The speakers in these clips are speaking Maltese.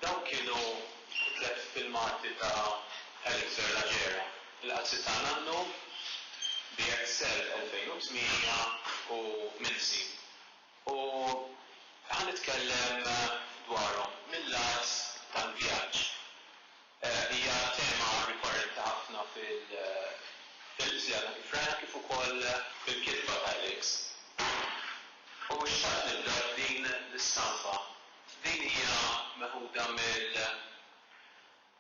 Dawk kienu t-tliet filmati ta' Elixir Lagiera, Il-Qazzi ta' Nannu, BXL 2008 u Minsi, u ħa nitkellem dwarhom mil-lat tal-vjaġġ. Hija tema rikorrenti ħafna fil-films li għadna kif rajna kif ukoll fil-kitba ta' Elix. U xtaqt nibda b'din l-istampa. Din hija meħuda mill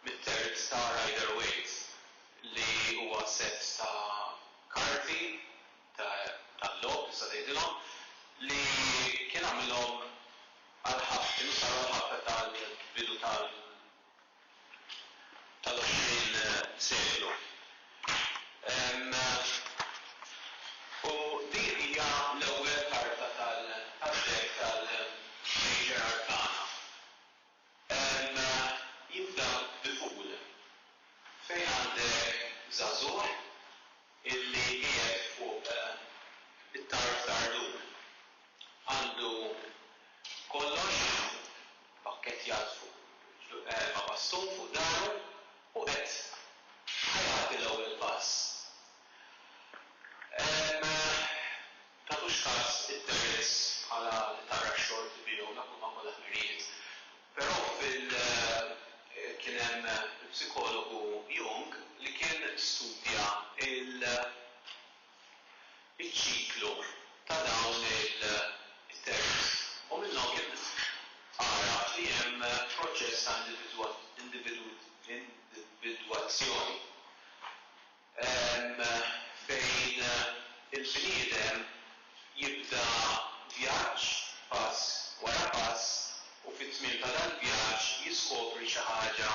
mit-terz ta' Rider Waite li huwa sett ta' karti ta' tal-logħob tista' tgħidilhom li kien għamilhom għall-ħabta kienu saru għall-ħabta tal-bidu tal tal-20 seklu. U din hija l-ewwel karta tad-dekk tal-Major Arcana. Jibda bi Fool fejn għandek żagħżugħ illi qiegħed fuq it-tarf tal-rdum. Għandu kollox pakkettjat fuq ma' bastun fuq dahru u qed ħa jagħti l-ewwel pass. Tagħtux kas it-terrazz bħala li tara x-xogħol tibigħu dak huma kollha ħmirijiet. Però fil kien hemm il-psikologu Jung li kien studja il iċ-ċiklu ta' dawn il it-terrazz u minnhom kien għaraf li hemm proċess ta' individwa individwazzjoni. Hemm fejn il-bniedem jibda vjaġġ pass wara pass u fit-tmiem ta' dal-vjaġġ jiskopri xi ħaġa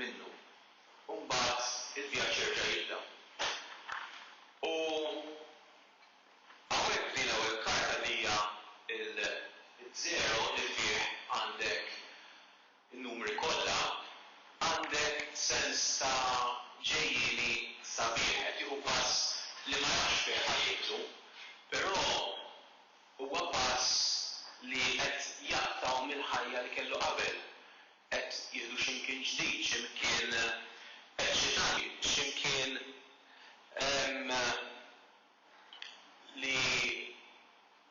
minnu. U mbagħad il-vjaġġ jerġa' jibda. U hawnhekk f'din l-ewwel karta li hija l-żero li fih għandek in-numri kollha, għandek sens ta' ġejjieni sabiħ. Qed jieħu pass li ma jafx fih ħajjtu, però huwa pass li qed jaqtgħu mill-ħajja li kellu qabel. Qed jieħdu x'imkien ġdid, x'imkien eċċitanti, x'imkien li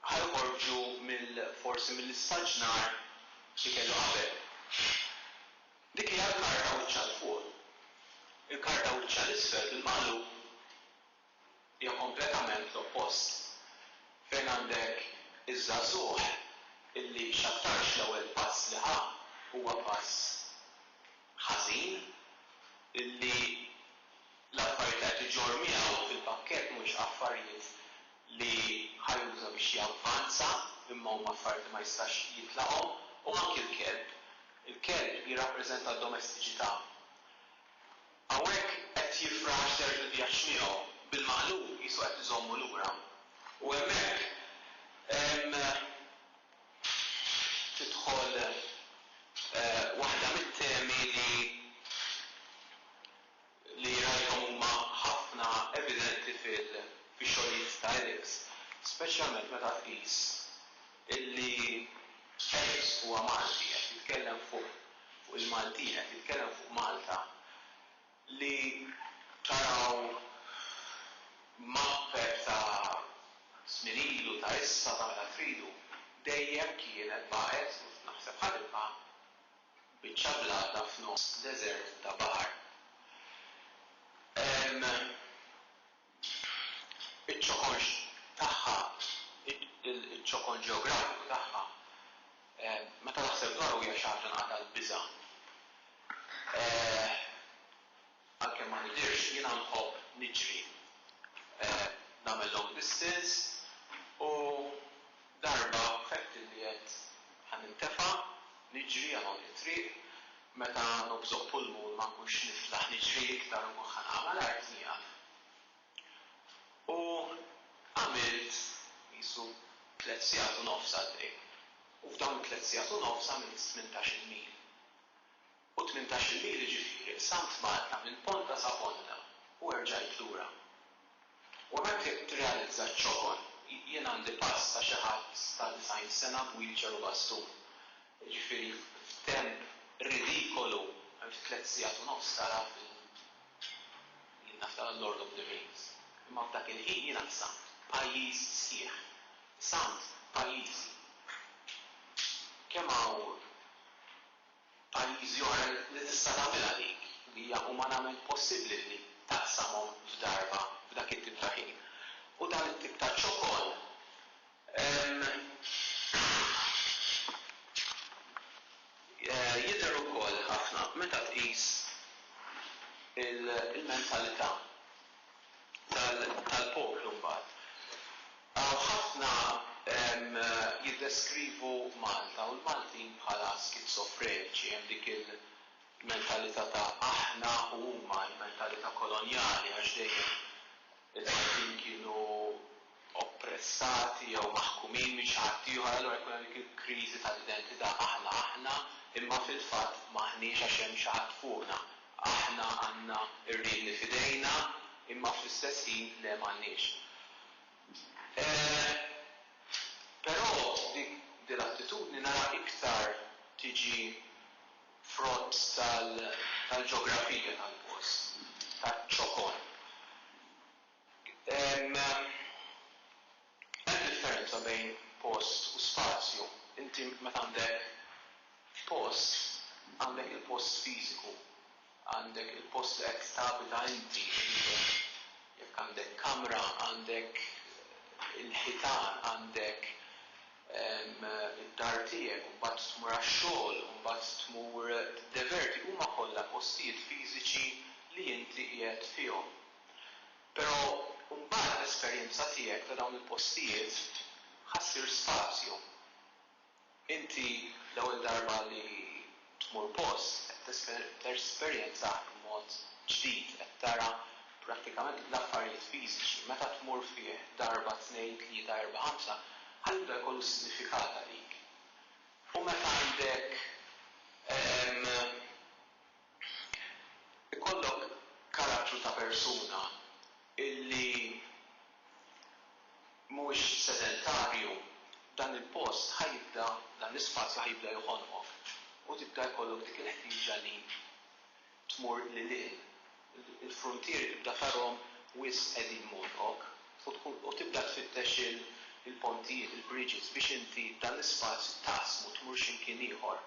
ħa joħorġu mill forsi mill-istaġnar li kellu qabel. Dik hija l-karta wiċċha 'l fuq. Il-karta wiċċha 'l isfel bil-magħluq hija kompletament l-oppost, fejn għandek iż-żagħżugħ illi x'aktarx l-ewwel pass li ħa huwa pass ħażin, illi L-affarijiet li qed iġorr miegħu fil-pakkett mhumiex affarijiet li ħa juża biex javvanza imma huma affarijiet li ma jistax jitlaqhom u anki l-kelb. Il-kelb jirrappreżenta d-domestiċità. Hawnhekk qed jifraħ għax ser il-vjaġġ miegħu. Bil-maqlub qisu qed iżommu lura. U hemmhekk hemm tidħol waħda mit-temi li li rajthom huma ħafna evidenti fix-xogħlijiet ta' Eriks, speċjalment meta tqis illi Eriks huwa Malti, qed jitkellem fuq il-Maltin, qed jitkellem fuq Malta li taraw mapper ta' żmien ilu, ta' issa, tagħmilha tridu, dejjem kienet baqgħet, u naħseb ħadimha, Biċċa blata f'nofs deżert ta' baħar. Iċ-ċokon tagħha, iċ-ċokon ġeografiku tagħha, meta naħseb dwaru hija xi ħaġa nqatgħat biża'. Għalkemm ma nidhirx, jiena nħobb niġri, nagħmel long distance u darba ħedt illi għedt ħa nintefa' niġri għal għond it-triq, meta nobżoq pulmun ma nkunx niflaħ niġri iktar u nkun ħa nagħmel art nieqaf. U għamilt qisu tliet sigħat u nofs għat-triq u f'dawn it-tliet sigħat u nofs għamilt tmintax-il mil. U tmintax-il mili ġifieri qsamt Malta minn ponta sa ponta u erġajt lura. U hemmhekk tirrealizza ċ-ċokon. Jien għandi pass ta' xi ħadd ta' disgħin sena b'wheelchair u bastun. Jiġifieri f'temp ridikolu, għamilt tliet sigħat u nofs tara fil jien naf tara Lord of the Rings. Imma f'dak il-ħin jiena qsamt pajjiż sħiħ. Qsamt pajjiżi. Kemm hawn. F'pajjiżi oħra li tista' tagħmilha dik hija umanament possibbli li taqsamhom f'darba f'dak it-tip ta' ħin. U dan it-tip ta' ċokon jidher ukoll ħafna meta tqis il-mentalità. tal-poplu mbagħad. Hawn ħafna jiddeskrivu Malta u l-Maltin bħala skizofreniċi, hemm dik il-mentalità ta' aħna u huma, il-mentalità kolonjali għax dejjem il-Maltin kienu, oppressati jew maħkumin minn xi ħadd ieħor, allura jkun hemm dik il-kriżi tal-identità, aħna aħna imma fil-fatt m'aħniex għax hemm xi ħadd fuqna. Aħna għandna r-riedni f'idejna imma fl-istess ħin le m'għandniex. Però dik din l-attitudni nara iktar tiġi frott tal-ġeografija tal-post, taċ-ċokon. Hemm differenza bejn post u spazju. Inti meta għandek post, għandek il-post fiżiku, għandek il-post li qed tabita inti, jekk għandek kamra, għandek il-ħitan, għandek id-dar tiegħek u mbagħad tmur għax-xogħol u mbagħad tmur tiddeverti, huma kollha postijiet fiżiċi li inti qiegħed fihom. Però mbagħad l-esperjenza tiegħek ta' dawn il-postijiet ħa ssir spazju. Inti l-ewwel darba li tmur post qed tesperjenzah b'mod ġdid, qed tara prattikament l-affarijiet fiżiċi. Meta tmur fih darba, tnejn, tlieta, erbgħa, ħamsa, ħa jibda jkollu sinifikat għalik. U meta għandek, ehm. Ikollok karattru ta' persuna li mhuwiex sedentarju, dan il-post ħa jibda, dan l-ispazju ħa jibda joħonqok u tibda jkollok dik il-ħtieġa li tmur lil hinn. Il-fruntieri tibda tarhom wisq qegħdin mogħlqok u tkun u tibda tfittex il-pontijiet, il-bridges biex inti dan l-ispazju taqsmu tmur xi mkien ieħor.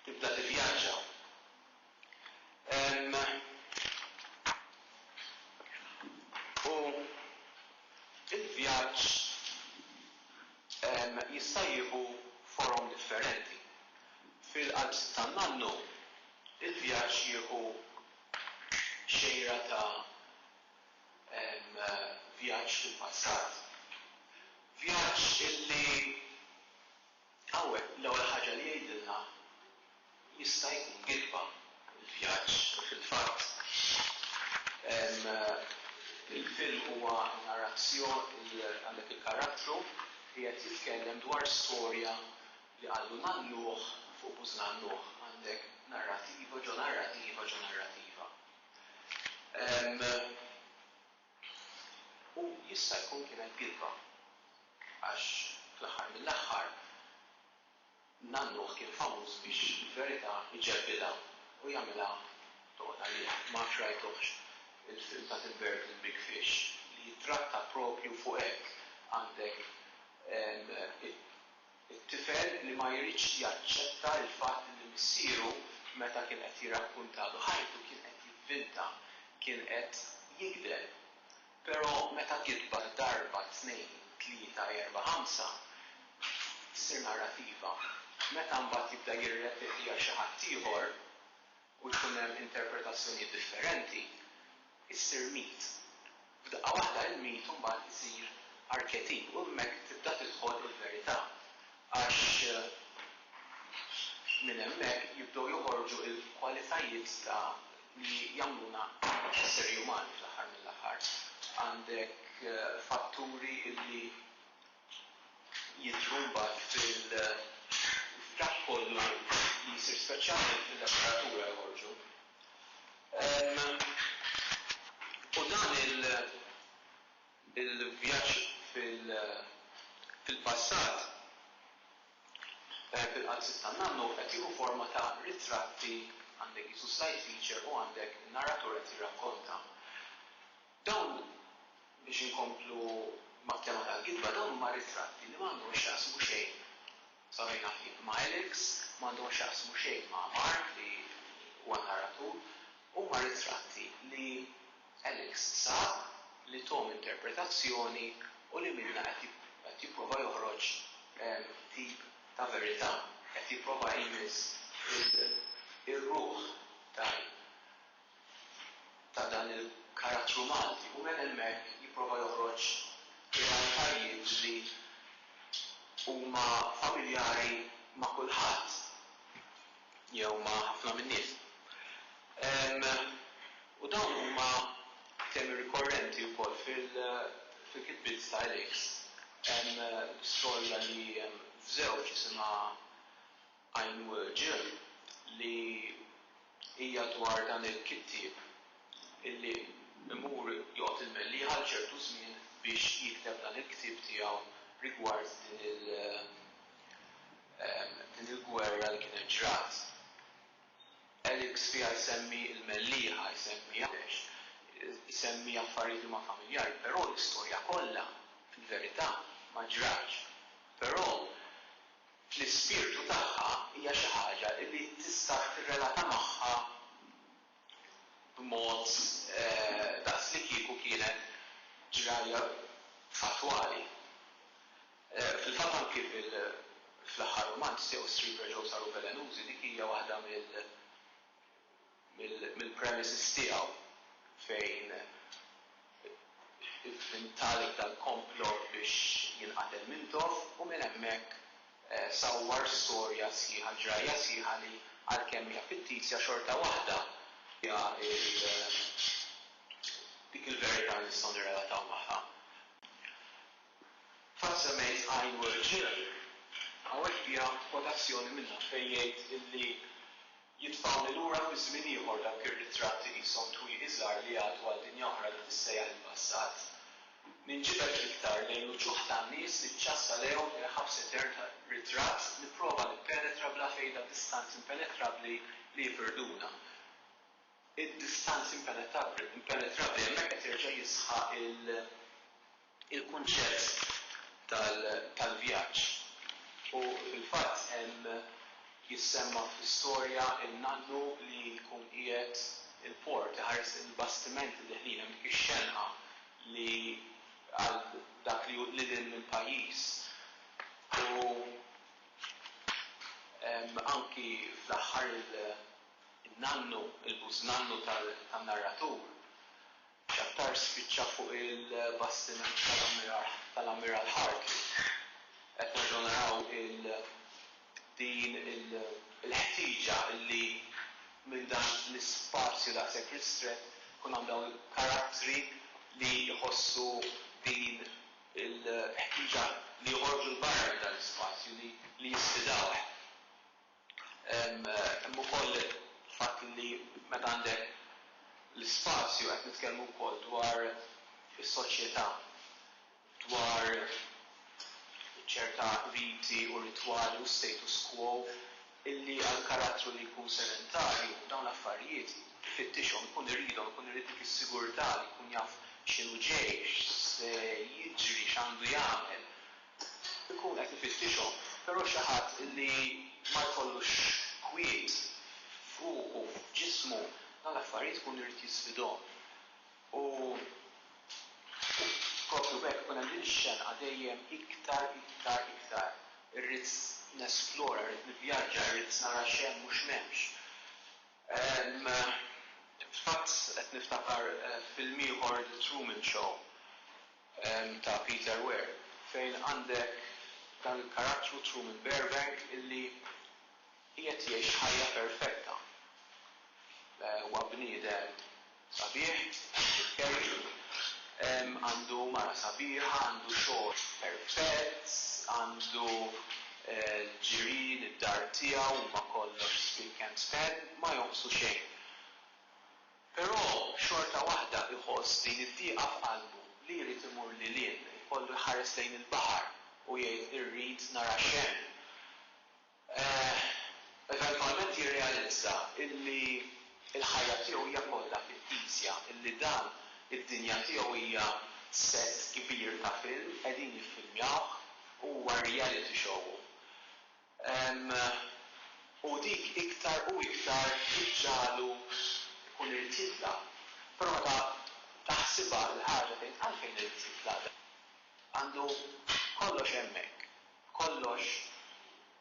Tibda tivvjaġġa. Ehm. U l-vjaġġ, ehm, jista' jieħu forom differenti. Fil-qalb Sittan Nannu, il-vjaġġ jieħu xejra ta', ehm, vjaġġ fil-passat. Vjaġġ illi Hawnhekk l-ewwel ħaġa li jgħidilna jista' jkun gidba l-vjaġġ. Fil-fatt, il-film huwa narrazzjon, għandek il-karattru li qed jitkellem dwar storja li qallu nagħlluh fuq buż nagħlluh. Għandek narrativa ġo narrativa ġo narrativa. U jista' jkun kienet gidba. Għax fl-aħħar mill-aħħar nannuh kien famuż biex il-verità jġebbidha u jagħmilha tgħodd għalih. Ma nafx rajtuhx il-film ta' Tim Burton Big Fish li jittratta proprju fuq hekk. Għandek it. It-tifel li ma jridx jaċċetta l-fatt li missieru meta kien qed jirrakkuntalu ħajtu kien qed jivvinta, kien qed jigdeb. Pero meta gidbet darba, tnejn, tlieta, erba', ħamsa, issir narrativa. Meta mbagħad jibda jirrepetiha xi ħaddieħor, u jkun hemm interpretazzjonijiet differenti, issir mit. F'daqqa waħda il-mit imbagħad isir arketip u hemmhekk tibda tidħol il-verità għax minn hemmhekk jibdew joħorġu l-kwalitajiet ta' li jagħmluna esseri umani fl-aħħar mill-aħħar. Għandek fatturi li jidhru mbagħad fil-dak kollu li jsir speċjalment fil-letteratura joħorġu. U dan il-vjaġġ fil-passat, fil-qalbsiet tan-nannu, qed jieħu forma ta' ritratti, għandek qisu slide feature u għandek in-narratur qed jirrakkonta. Dawn, biex inkomplu mat-tema tal-kitba, dawn huma ritratti li ma għandhom x'jaqsmu xejn, sa fejn naf jien, ma' Alex, ma għandhom x'jaqsmu xejn ma' Mark li huwa n-narratur, huma ritratti li Alex sab, li thom interpretazzjoni u li minnha qed jipprova joħroġ tip ta' verità, qed jipprova jmiss ir-ruħ ta' ta' dan il-karattru Malti u minn hemmhekk jipprova joħroġ realtajiet li huma familjari ma' kulħadd jew ma' ħafna min-nies. U dawn huma temi rikorrenti wkoll fil-kitbiet ta' Alex, skolla li f'żewġ isimha. Għajn Ġieħ li hija dwar dan il-kittieb illi imur joqgħod il-Mellieħa għal ċertu żmien biex jikteb dan il-ktieb tiegħu rigward din il din il-gwerra li kienet ġrat. Elix fiha jsemmi l-Mellieħa, jsemmi Għawdex, isemmi affarijiet li huma familjari, però l-istorja kollha fil-verità ma ġratx. Però fl-ispirtu tagħha hija xi ħaġa li tistax tirrelata magħha b'mod daqslikieku kienet ġrajja fattwali. Fil-fatt anki fl-aħħar rumanz tiegħu Street Rejos Are U Velenuzi dik hija waħda mill. mill-premises tiegħu fejn intaleb dal-komplott biex jinqatel minn toff u minn hemmhekk sawwar storja sħiħa, ġrajja sħiħa li għalkemm hija fittisja xorta waħda fiha dik il-verità li nistgħu nirrelataw magħha. Fatt semmejt Ein Wort Jill, hawnhekk hija kwotazzjoni minnha fejn jgħid illi, Jitfgħuni lura fi żmien ieħor dawk ir-ritratti qishom twieqi żgħar li jgħaddu għal dinja oħra li tissejjaħ il-passat. Ninġibed l-iktar lejn l-uċuħ tan-nies li ċċass għalejhom il-ħabs etern ta' ritratt, nipprova nippenetra bla fejda distanzi impenetrabbli li jfirduna. Id-distanzi impenetrabbli, hemmhekk qed jerġa' jisħaq il. il-kunċett tal-vjaġġ u fil-fatt hemm jissemma fl-istorja n-nannu li jkun qiegħed il-port iħares lejn il-bastimenti deħlin hemm dik ix-xenqa li għal dak li hu lil hinn mill-pajjiż u anki fl-aħħar in-nannu, il-bużnannu tan-narratur. X'aktar spiċċa fuq il-bastiment tal-Ammiral Hartley. Qed nerġgħu naraw din il-ħtieġa li minn dan l-ispazju daqshekk ristrett ikun hawn dawn il-karattri li jħossu din il-ħtieġa li joħorġu 'l barra minn dan l-ispazju, li jisfidawh. Hemm ukoll il-fatt li meta għandek l-ispazju qed nitkellmu wkoll dwar is-soċjetà, dwar ċerta riti u ritwali u status quo illi għal karattru li jkun sedentarju dawn l-affarijiet ifittixhom, ikun iridhom, ikun irid dik is-sigurtà li jkun jaf x'inhu ġej, x'se jiġri, x'għandu jagħmel. ikun qed ifittixhom, però xi ħadd li ma jkollux kwiet f'ruħu, f'ġismu, dawn l-affarijiet ikun irid jisfidhom. U proprju b'hekk ikun hemm din ix-xenqa dejjem iktar, iktar, iktar. Irrid nesplora, irrid nivvjaġġa, irrid nara x'hemm u x'm'hemmx. Fil-fatt qed niftakar film ieħor The Truman Show. ta' Peter Weir, fejn għandek dan il-karattru Truman Burbank illi qiegħed jgħix ħajja perfetta. Huwa bniedem sabiħ, Andrew Carey, għandu mara sabiħa, għandu xogħol perfett, għandu l-ġirien, id-dar tiegħu huma kollox spick and span, ma jonqsu xejn. Però xorta waħda iħoss din id-dieqa f'qalbu li jrid imur lil hinn, ikollu jħares lejn il-baħar u jgħid irrid nara x'hemm. Eeh, eventwalment jirrealizza illi l-ħajja tiegħu hija kollha fittizja, illi dan id-dinja tiegħu hija sett kbir ta' film qegħdin jiffilmjawh u huwa reality show. u dik iktar u iktar iġġagħlu jkun irid jitlaq. Però meta taħsibha l-ħaġa tgħid għalfejn irid jitlaq dan? Għandu kollox hemmhekk, kollox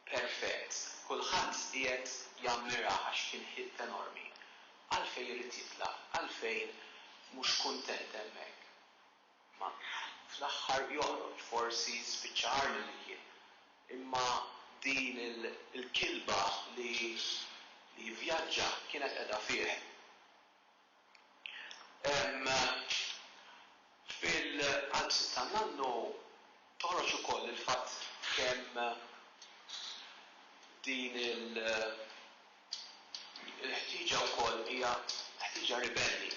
perfett, kulħadd qiegħed jammirah għax kien hit enormi. Għalfejn irid jitlaq? Għalfejn mhux kuntent hemmhekk? Ma fl-aħħar joħroġ forsi spiċċa agħar milli kien. Imma din il-kilba li jivvjaġġa kienet qiegħda fih. Hemm fil-qalbsiet ta' Nannu toħroġ ukoll il-fatt kemm din il-, Il-ħtieġa wkoll hija ħtieġa ribelli.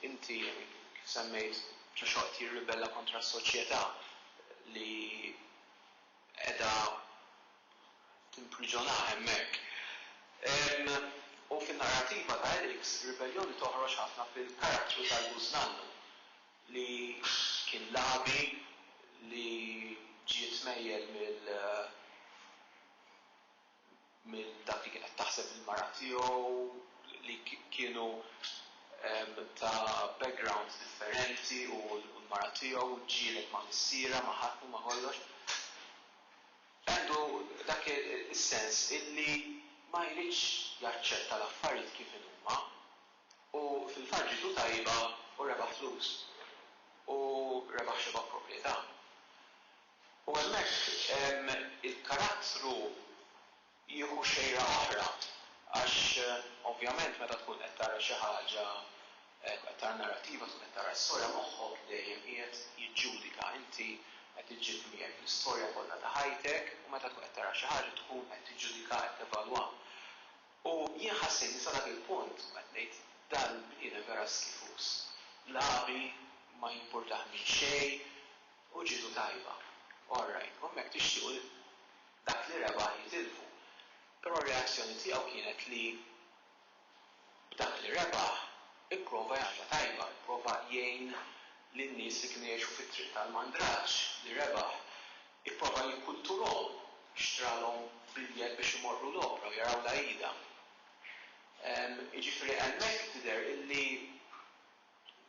Inti, kif semmejt, Ġoxwa qed jirribella kontra s-soċjetà li qiegħda timpriġunah hemmhekk. U fin-narrativa ta' Eriks, ribelljoni toħroġ ħafna fil-karattru tal-bużnannu li kien lagħbi li ġie tmejjel mill. minn dak li kienet taħseb il-mara tiegħu li kienu ta' background differenti u l-mara tiegħu u ġġieled ma' missierha ma' ħadd u ma' kollox. Għandu dak is-sens illi ma jridx jaċċetta l-affarijiet kif inhuma u fil-fatt ġietu tajba u rebaħ flus u rebaħ xi vapproprjetà. U hemmhekk il-karattru jieħu xejra oħra għax ovvjament meta tkun qed tara xi ħaġa, qed tara narrattiva, tkun qed tara storja, moħħok dejjem qiegħed jiġġudika. Inti qed iġġib miegħek l-istorja kollha ta' ħajtek u meta tkun qed tara xi ħaġa tkun qed tiġġudika, qed tevalwa. U jien ħassejtni sa dak il-punt u qed ngħid dal-bniedem vera skifuż. L-għabi ma jimpurtah minn xejn, U ġietu tajba. All right, u hemmhekk tixtiequ li dak li rebaħ jitilfu. Però r-reazzjoni tiegħu kienet li b'dak li rebaħ ipprova jagħmilha tajba, ipprova jgħin lin-nies li kienu jgħixu fit-triq tal-mandraġġ li rebaħ. Ipprova jikkulturhom, xtralhom biljett biex imorru l-opra u jaraw l-għajida. Jiġifieri hemmhekk tidher illi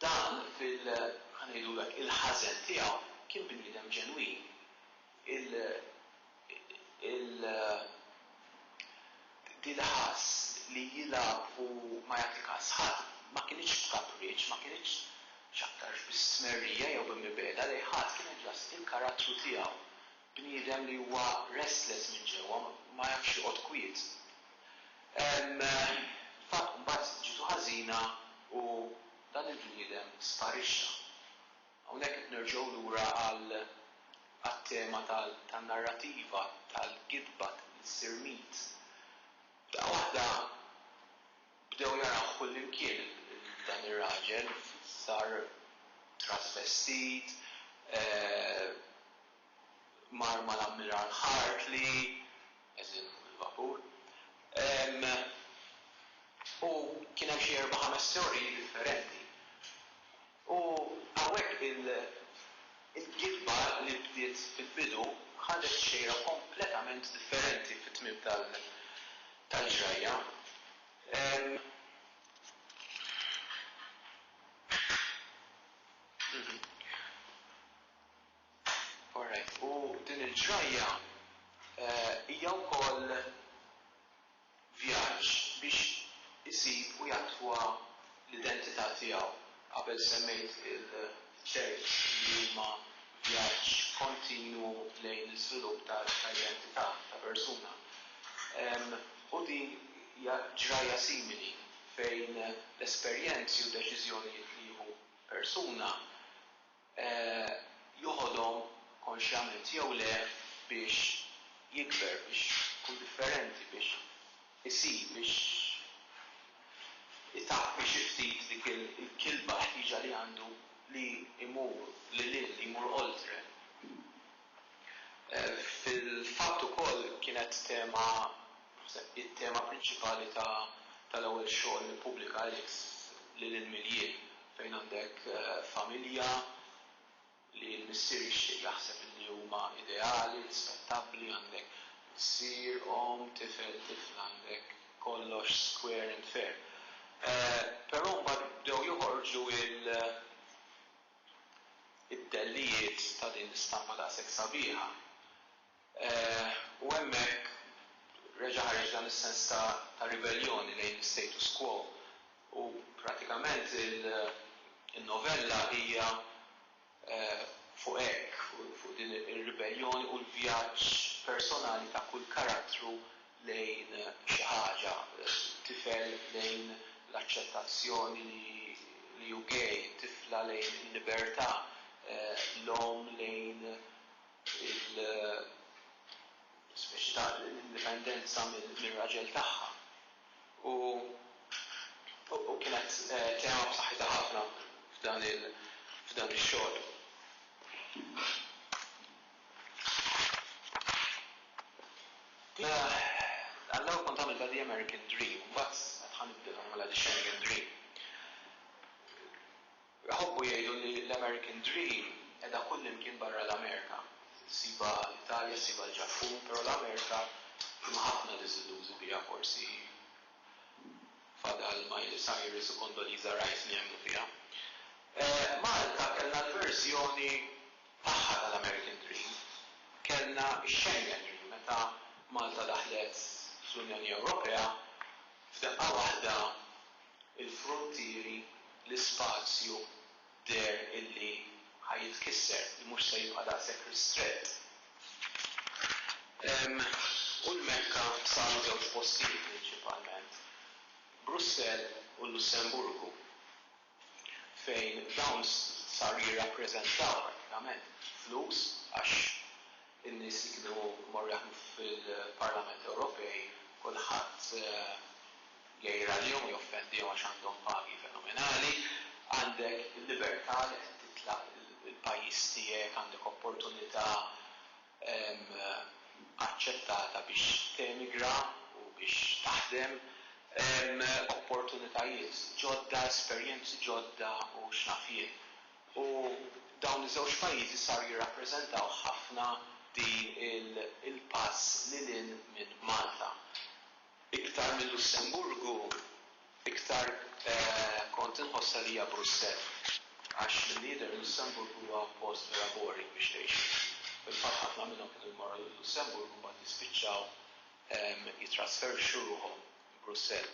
Dan fil, ħa ngħidu hekk, il-ħażen tiegħu kien bniedem ġenwin. Il, il, dil ħass li jilgħab u ma jagħti kas ħadd ma kinitx b'kapriċċ, ma kinitx x'aktarx bi stmerrija jew bi mibegħda lejn ħadd, kienet ġast il-karattru tiegħu. Bniedem li huwa restless minn ġewwa, ma jafx joqgħod kwiet. Fil-fatt mbagħad ġietu ħażina u dan il-bniedem sparixxa. Hawnhekk qed nerġgħu lura għat-tema tan-narrativa, tal-gidba li ssir mit. F'daqqa waħda bdew jarawh kullimkien dan ir-raġel, sar trasvestit, mar mal-Ammiral Hartley, għeżieħ fuq il-vapur, u kien hemm xi erba' ħames teoriji differenti. U hawnhekk il-gidba li bdiet fil-bidu ħadet xejra kompletament differenti fit-tmiem tal-ġrajja. Alright, u din il-ġrajja hija wkoll vjaġġ biex isib u jattwa l-identità tiegħu. Qabel semmejt il-ċerk li huma vjaġġ kontinwu lejn l-iżvilupp ta' identità ta' persuna. U din hija ġrajja simili fejn l-esperjenzi u d-deċiżjonijiet li jieħu persuna, joħodhom konxjament jew le biex jikber, biex ikun differenti, biex isib, biex itappi xi ftit dik il-kilba, l-ħtieġa li għandu li jmur lil hinn, li jmur oltre. Fil-fatt ukoll kienet tema, naħseb it-tema prinċipali tal-ewwel xogħol li ppubblika Alex, Lil Hinn Mill-Jien, fejn għandek familja li l-missier jixtieq jaħseb illi huma ideali, rispettabbli, għandek missier, omm, tifel, tifla, għandek kollox square and fair. Però mbagħad bdew joħorġu il. id-dellijiet ta' din l-istampa daqshekk sabiħa. U hemmhekk reġa' ħareġ dan is-sens ta' ta' ribelljoni lejn l-istatus quo. U pratikament il-novella hija fuq hekk, fuq din ir-ribelljoni u l-vjaġġ personali ta' kull karattru lejn xi ħaġa, tifel lejn l-aċċettazzjoni li hu gay, tifla lejn il-libertà, l-omm lejn il-speċi ta' l-indipendenza mir-raġel tagħha. U kienet tema b'saħħitha ħafna f'dan ix-xogħol. Għall-ewwel kont għamilt għal The American Dream u mbagħad għad ħa nibdel u nagħmilha The Schengen Dream. Iħobbu jgħidu li l-American Dream qiegħda kullimkien barra l-Amerika. Issibha l-Italja, issibha l-Ġappun, però l-Amerika hemm ħafna diżillużi biha forsi fadal Miley Cyrus u Condoleezza Rice li jemmnu fiha. Malta kellna l-verżjoni tagħha tal-American Dream. Kellna x-Schengen Dream meta Malta daħlet fl-Unjoni Ewropea, f'daqqa waħda l-fruntieri, l-ispazju deher illi ħa jitkisser, li mhux se jibqa' daqshekk ristrett. U l-Mekka saru żewġ postijiet prinċipalment, Brussell u l-Lussemburgu. fejn dawn saru jirrappreżentaw prattikament flus għax in-nies li kienu jmorru jaħdmu fil-Parlament Ewropej kulħadd jgħir għalihom u joffendihom għax għandhom pagi fenomenali. Għandek il-libertà li qed titla' il-pajjiż tiegħek, għandek opportunità. aċċettata biex temigra u biex taħdem, opportunitajiet ġodda, esperjenzi ġodda u x'naf jien. U dawn iż-żewġ pajjiżi saru jirrappreżentaw ħafna din il-pass lil hinn minn Malta. Iktar minn Lussemburgu, iktar kont inħossha li hija Brussell, għax milli jidher Lussemburgu huwa post vera boring biex tgħixu. Fil-fatt ħafna minnhom kienu jmorru lil Lussemburgu mbagħad jispiċċaw jittrasferxxu ruħhom Brussell.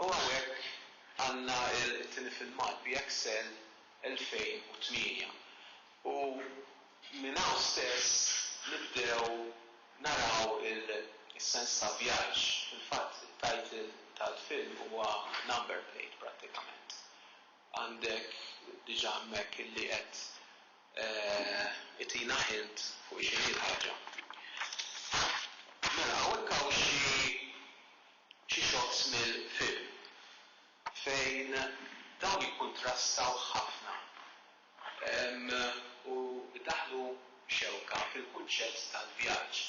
U hawnhekk għandna t-tieni filmat, BXL 2008. U minn hawn stess nibdew naraw is-sens ta' vjaġġ. Fil-fatt it-title tal-film huwa number plate prattikament. Għandek diġà hemmhekk illi qed itina hint fuq x'inhi l-ħaġa. Mela hawnhekk hawn xi shots mill-film fejn dawn jikkuntrastaw ħafna u daħlu xewka fil-kunċett tal-vjaġġ.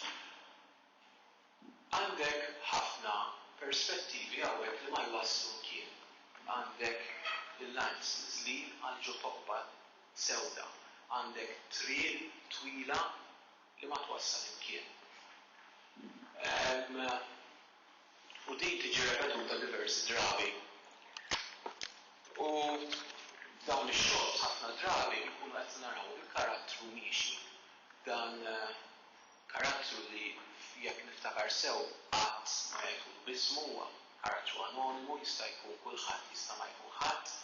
Għandek ħafna perspettivi hawnhekk li ma jwasslu mkien. Għandek l-lines nizlin għal ġo tobba sewda. Għandek triq twila li ma twassal imkien. u din tiġi repetuta diversi drabi u f'dawn ix-xogħols ħafna drabi nkunu qed naraw il-karattru miexi, dan karattru li jekk niftakar sew qatt ma jgħidulu b'ismu huwa karattru anonimu jista' jkun kulħadd jista' ma jkun ħadd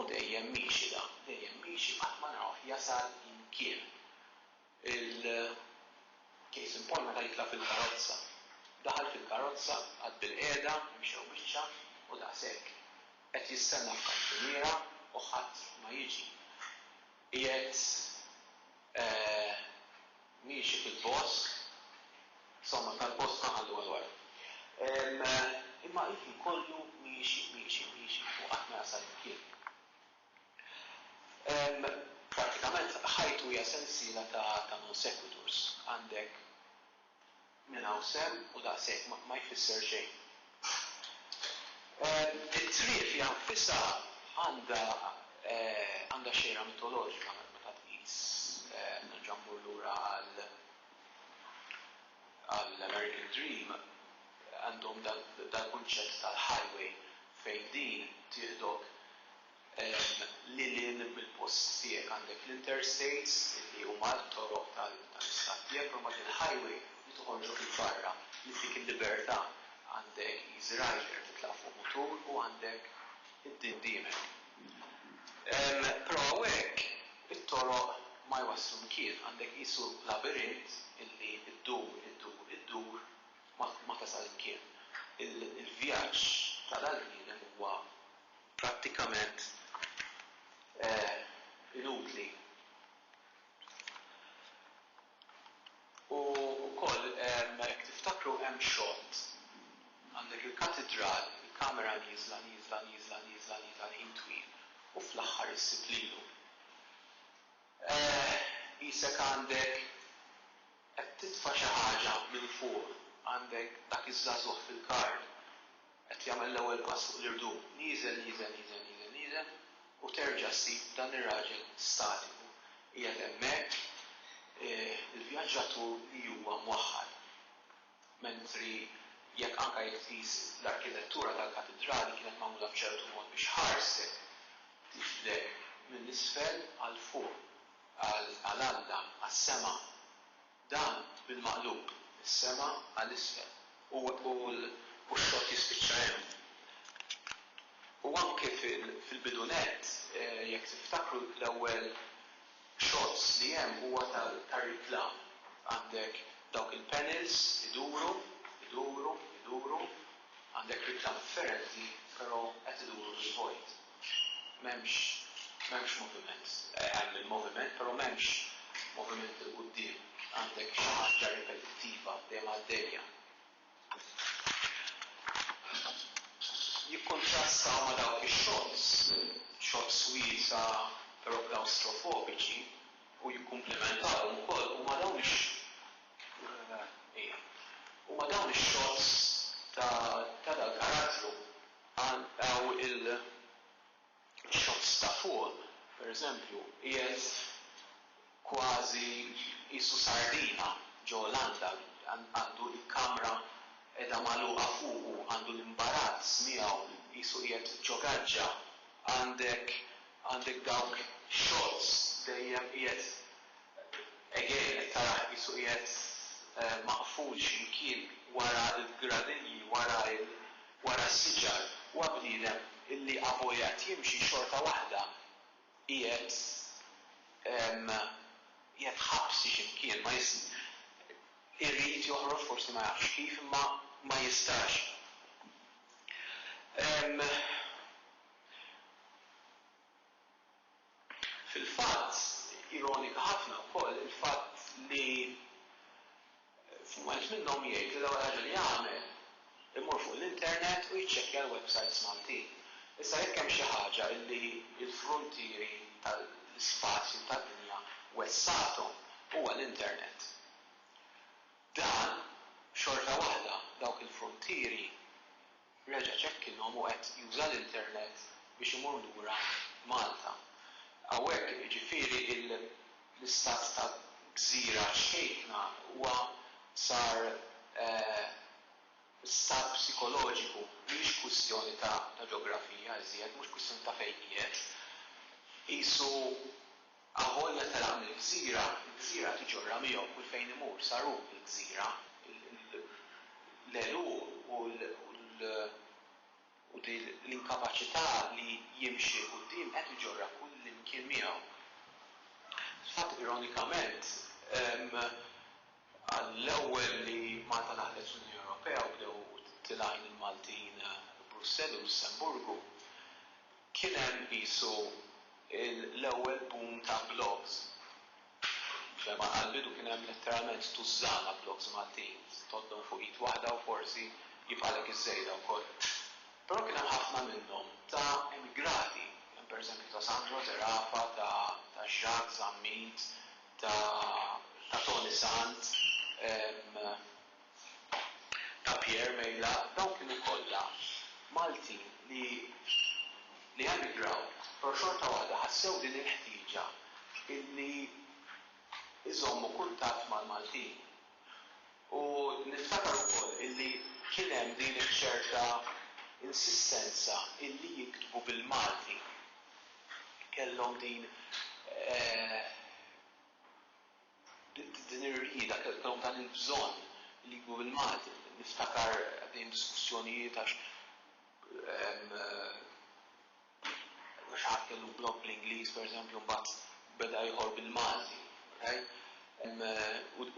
u dejjem miexi dan, dejjem miexi qatt ma narawh jasal imkien. Il-case in point meta jitla' fil-karozza. Daħal fil-karozza, qagħad bilqiegħda, imxew biċċa u daqshekk. Qed jistenna f'kantuniera u ħadd ma jiġi. Qiegħed miexi fil-bosk, somma tal-bosk ma ħallu għal wara. Imma ilu kollu miexi, miexi, miexi u qatt ma jasal imkien. Prattikament ħajtu hija sensiela ta' non sequiturs. Għandek minn hawn sehem u daqshekk, ma jfisser xejn. It-triq fiha nfisha għandha għandha xejra mitoloġika meta tqis, nerġa' mmur lura għal, għall-American Dream għandhom dal-kunċett tal-highway fejn din tieħdok lil hinn mill-post tiegħek. Għandek l-interstates li huma t-toroq tal-istat tiegħek, però mbagħad il-highway li toħorġok 'il barra, li ttik il-libertà. Għandek Easy Rider, titlaq fuq mutur u għandek id-din qudiemek. Però hawnhekk it-toroq ma jwasslu mkien, għandek qisu labirint illi ddur, iddur, iddur ma tasal imkien. Il-vjaġġ ta' dal-bniedem huwa prattikament inutli. U wkoll, jekk tiftakru, hemm xott, għandek il-Katidral, il-kamera nieżla, nieżla, nieżla, nieżla, nieżla l-ħin twil u fl-aħħar issib lilu. Eeh, qisek għandek, qed titfa' xi ħaġa minn fuq, għandek dak iż-żagħżugħ fil-kard. Qed jagħmel l-ewwel pass fuq l-irdum, nieżel, nieżel, nieżel, nieżel, nieżel, u terġa' ssib dan ir-raġel statiku qiegħed hemmhekk, il-vjaġġatur li huwa mwaħħal. Mentri jekk anke jekk tqis l-arkitettura tal-Katidrali kienet magħmula b'ċertu mod biex ħarset tixbdek minn isfel għal fuq, għal Alla, għas-sema. Dan bil-maqlub. Is-sema għal isfel. U x-xott jispiċċa hemm. U anke fil-bidu nett, jekk tiftakru, l-ewwel shots li hemm huwa tar-reklam. Għandek dawk il-panels iduru, iduru, iduru, għandek reklam differenti, però qed iduru fil-vojt. M'hemmx, m'hemmx moviment. Hemm il-moviment, però m'hemmx moviment 'il quddiem. Għandek xi ħaġa ripetittiva, dejjem għaddejja. Jikkuntrastaw ma' dawk ix-xots, xots wiesgħa però klawstrofobiċi, u jikkumplimentawhom ukoll, huma dawn ix, ija, huma dawn ix-xots ta' ta' dal-karattru. Hawn il-shots ta' fuq, pereżempju, qiegħed kważi qisu sardina ġo landa, għandu l-kamra qiegħda magħluqa fuqu, għandu l-imbarazz miegħu, qisu qiegħed ġo gaġġa, għandek għandek dawk shots dejjem qiegħed again qed tarah qisu qiegħed maqful xi mkien wara l-gradinji, wara il-. wara s-siġar huwa bniedem illi avojat jimxi xorta waħda qiegħed qiegħed ħabsi xi mkien ma irid joħroġ forsi ma jafx kif imma ma jistax Fil-fatt, ironika ħafna wkoll il-fatt li f'mument minnhom jgħid li l-ewwel ħaġa li jagħmel imur fuq l-internet u jiċċekkja l-websajts Maltin. Issa jekk hemm xi ħaġa li l-fruntieri tal-ispazju tad-dinja wessgħathom huwa l-internet. Dan, xorta waħda, dawk il-fruntieri Reġa' ċekkinhom u qed juża l-internet biex imur lura Malta. Hawnhekk, jiġifieri, l-istat ta' gżira ċkejkna huwa sar stat psikoloġiku, mhijiex kwistjoni ta' ġeografija iżjed, mhux kwistjoni ta' fejn qiegħed. Qisu Avolja telaq mill-gżira, il-gżira tiġorra miegħu kull fejn imur, sar hu l-gżira, l-għeluq u l-inkapaċità li jimxi 'l quddiem qed iġorrha kullimkien miegħu. Fil-fatt, ironikament, għall-ewwel li Malta daħlet fl-Unjoni Ewropea u bdew tilgħin il-Maltin Brussell u Lussemburgu, Kien hemm qisu l-ewwel boom ta' blogs. F'fehma ta' l-bidu kien hemm letteralment tużżana blogs Maltin, tgħoddhom fuq id waħda u forsi jibqgħalek iż-żejda wkoll. Però kien hemm ħafna minnhom ta' emigrati, kien hemm pereżempju ta' Sandro Zerafa, ta' Jacques Zammit, ta' Toni Sant, ta' Pierre Mejla dawn kienu kollha Maltin li li emigraw pero' xorta waħda ħassew din il-ħtieġa illi iżommu kuntatt mal-Maltin. U niftakar ukoll illi kien hemm din iċ-ċerta insistenza illi jiktbu bil-Malti. Kellhom din eh. Din ir-rieda kemm hu dan il-bżonn li jkun bil-Malti. Niftakar għaddejjin diskussjonijiet għax xi ħadd kellu blog bl-Ingliż pereżempju mbagħad beda ieħor bil-Malti, right?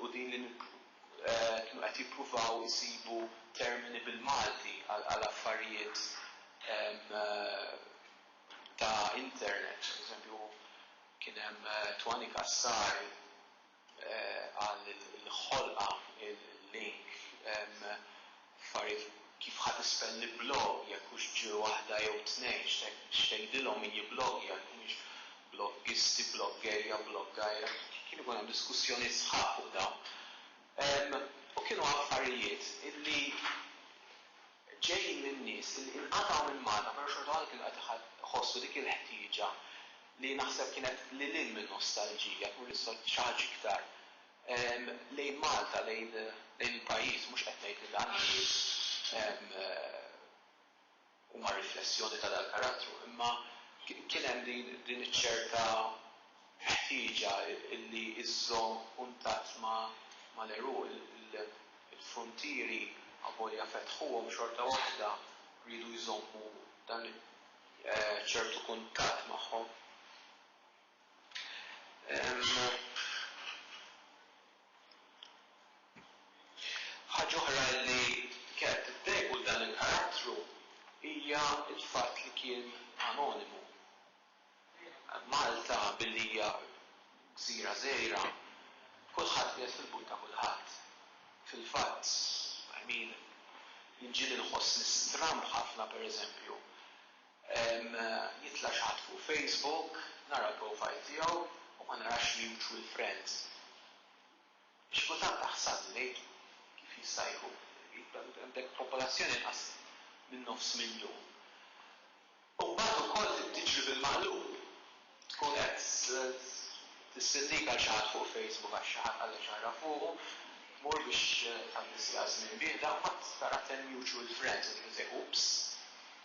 U din li kienu qed jippruvaw isibu termini bil-Malti għal affarijiet ta' internet, pereżempju, Kien hemm Twani Cassar qal il-ħolqa il-link f'affarijiet kif ħa tispell li blog jekk hux ġ waħda jew tnejn x'tgħidilhom min jibblogja jekk humiex bloggisti bloggerja bloggajra kien ikun hemm diskussjonijiet sħaħ fuq dawn u kienu affarijiet illi ġej minn nies li inqatgħu minn Malta però xorta waħda kienu qed iħossu dik il-ħtieġa li naħseb kienet lil hinn min-nostalġija tmur lil xi ħaġa iktar lejn Malta, lejn il-pajjiż. Mhux qed ngħid li dan in-nies huma riflessjoni ta' dal-karattru imma kien hemm din iċ-ċerta, ħtieġa li żżomm kuntatt mal-għeruq, il-fruntieri avolja fetħuhom xorta waħda riedu jżommu dan ċertu kuntatt magħhom. Ħaġa oħra li kellha tiddejjqu dan il-karattru hija l-fatt li kien anonimu. Malta billi hija gżira żgħira, kulħadd qiegħed fil-but ta' kulħadd. Fil-fatt, I mean, jinġieli nħossni stramb ħafna pereżempju, jitla' xi ħadd fuq Facebook, nara l-profile tiegħu u ma narax mutual friends. Għax kultant taħsad li ngħidu kif jista' jkun li għandek popolazzjoni inqas minn nofs miljun u mbagħad ukoll tiġri bil-maqlub tkun qed tissindika għal xi ħadd fuq Facebook għax xi ħadd qalek xi ħaġa fuqu, tmur biex tgħaddi siegħa żmien bieda u mbagħad tara ten mutual friends u tgħid sejħ oops,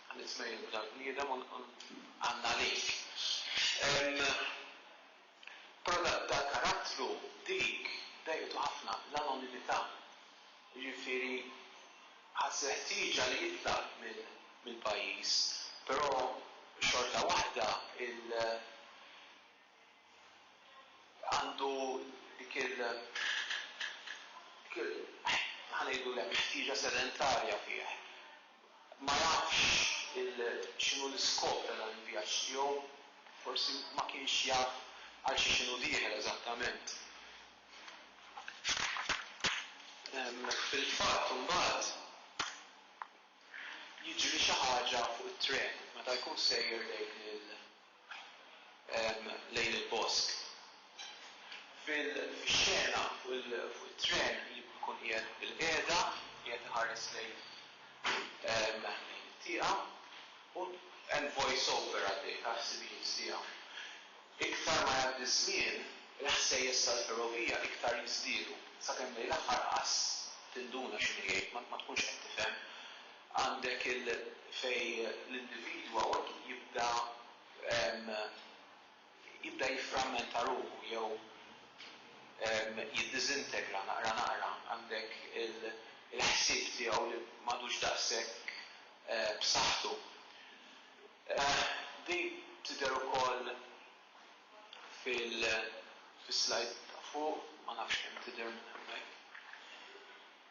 għamilt mejl lil dan il-bniedem u ngħanna għalik. Però dal-karattru dik dejqtu ħafna, l-anonimità. Jiġifieri ħass il-ħtieġa li jitlaq mill-pajjiż, però xorta waħda il għandu dik il ħa ngħidulek ħtieġa sedentarja fih. Ma jafx x'inhu l-iskop ta' dan il-vjaġġ tiegħu, forsi ma kienx jaf għal xiex inhu dieħel eżattament. Fil-fatt imbagħad jiġri xi ħaġa fuq it-tren meta jkun sejjer lejn il. lejn il-bosk. Fil-xena fuq it-tren ikun qiegħed bilqiegħda, qiegħed iħares lejn it-tieqa u hemm voice over għaddej tal-ħsibijiet tiegħu. Iktar ma jgħaddi ż-żmien, il-ħsejjes tal-ferrovija iktar jiżdiedu, sakemm lejn l-aħħar qas tinduna x'inhu jgħid, ma tkunx qed tifhem. Għandek il fejn l-individwa jibda jibda jifframmenta ruħu jew jiddiżintegra naqra naqra. Għandek il-ħsieb tiegħu li m'għadux daqshekk b'saħħtu. Din tidher ukoll fil-slajd ta' fuq, ma nafx kemm tidher minn hemmhekk.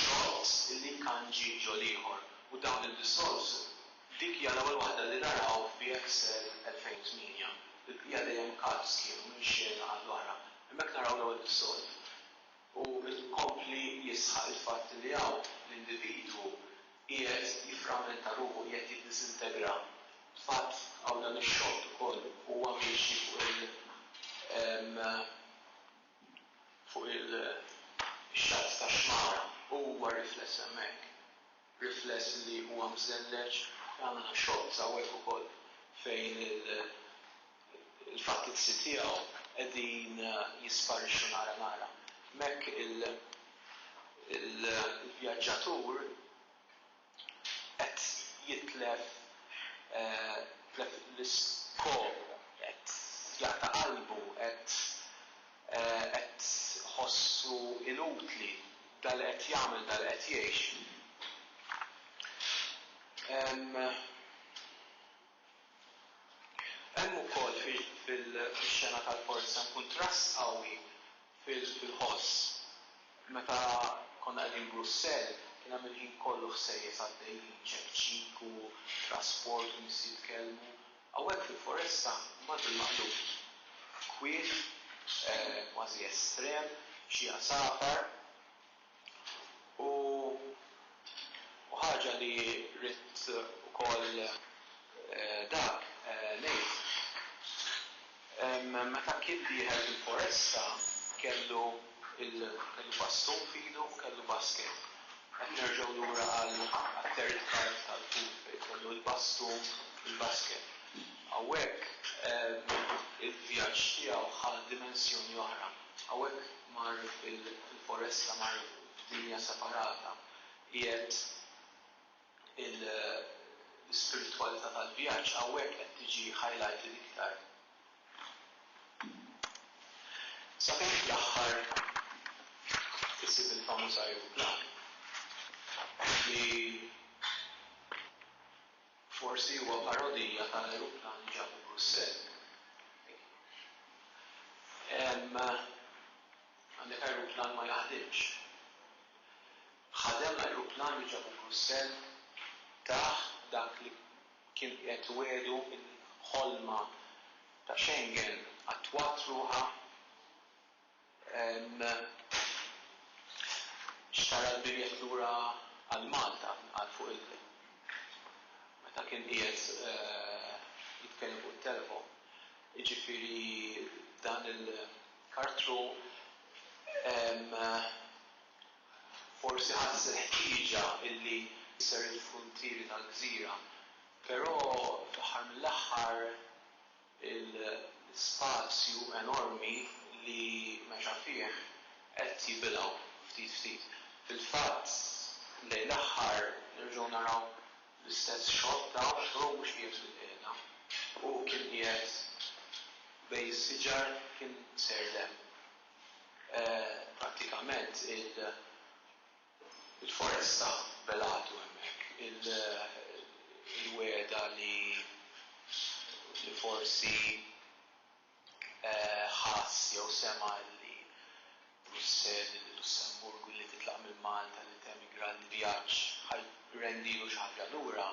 Xorts li nkanġi ġo l-ieħor u dawn id-dissolves, dik hija l-ewwel waħda li naraw f'BXL 2008, il-bqija dejjem carbs kienu minn xena għall-oħra. Hemmhekk naraw l-ewwel dissolve u jkompli jisħaq il-fatt li hawn l-individwu qiegħed jifframmenta ruħu, qiegħed jiddisintegra. Fatt hawn dan ix-xott ukoll huwa miexi fuq il. fuq il-xatt tax-xmara u huwa rifless hemmhekk, rifless li huwa mżelleġ, jagħmilna xoqq hawnhekk ukoll fejn il-fattizzi tiegħu qegħdin jisparixxu nara nara. Hemmhekk il-vjaġġatur qed jitlef jitlef l-iskop, qed jaqta' qalbu, qed qed iħossu inutli dak li qed jagħmel, dak li qed jgħix. Hemm hemm ukoll fil-xena tal-forza kuntrast qawwi Fil-ħoss, meta konna qegħdin Brussell, kien hemm il-ħin kollu ħsejjes għaddejjin, ċekċik u trasport u nies jitkellmu. Hawnhekk fil-foresta, imbagħad bil-maqlub, kwiet, kważi estrem, xi għasafar, U u ħaġa li ridt ukoll dak ngħid, meta kien dieħel fil-foresta kellu kellu bastun f'idu u kellu basket. Qed nerġgħu lura għal għat-third part tal-food fejn kellu l-bastun u l-basket. Hawnhekk il-vjaġġ tiegħu ħa dimensjoni oħra. Hawnhekk mar fil-foresta, mar f'dinja separata, qiegħed l-ispiritwalità tal-vjaġġ hawnhekk qed tiġi highlighted iktar. Sabiex fl-aħħar isib il-famuż ajruplan li. Forsi huwa parodija ta' l-ajruplan li ġabu Brussell. Hemm għandek ajruplan ma jaħdimx. Ħadem l-ajruplan li ġabu Brussell? Tah dak li kien qiegħed iwegħdu il-ħolma ta' Schengen attwat ruħha? Xtara l-biljett lura għal Malta, qal fuq il-kliem. Meta kien qiegħed jitkellem fuq it-telefon. Jiġifieri dan il-Kartru forsi ħass il-ħtieġa illi jser il-fruntieri tal-gżira, però fl-aħħar mill-aħħar il-spazju enormi li mexa fih qed jibilgħu ftit ftit. Fil-fatt lejn l-aħħar nerġgħu naraw l-istess xogħol ta' xogħol mhux qiegħed fil-qiegħda. Hu kien qiegħed bejn is-siġar kien sejr l-hemm. Prattikament il-ħajja Il-foresta belatu hemmhekk. Il-wegħda li forsi ħass jew sema' li Brussell, il-Lussemburgu, li titlaq minn Malta, li temigra l-vjaġġ ħa jrendilu xi ħaġa lura,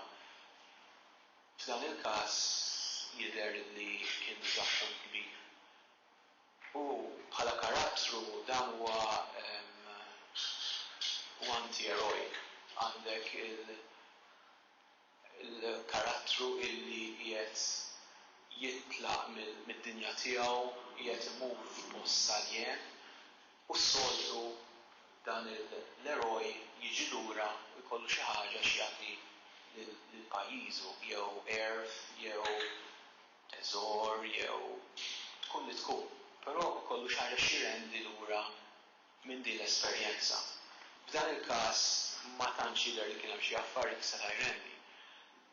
f'dan il-każ jidher li kien diżappunt kbir. U bħala karattru dan huwa huwa anti-eroic. Għandek il il-karattru illi qiegħed jitlaq mill mid-dinja tiegħu, qiegħed imur f'post saljen u s-soltu dan il l-eroj jiġi lura u jkollu xi ħaġa x'jagħti lil lil pajjiżu jew għerf jew teżor jew tkun li tkun, però ikollu xi ħaġa x'jrendi lura minn din l-esperjenza. F'dan il-każ ma tantx jidher li kien hemm xi affarijiet li seta' jrendi.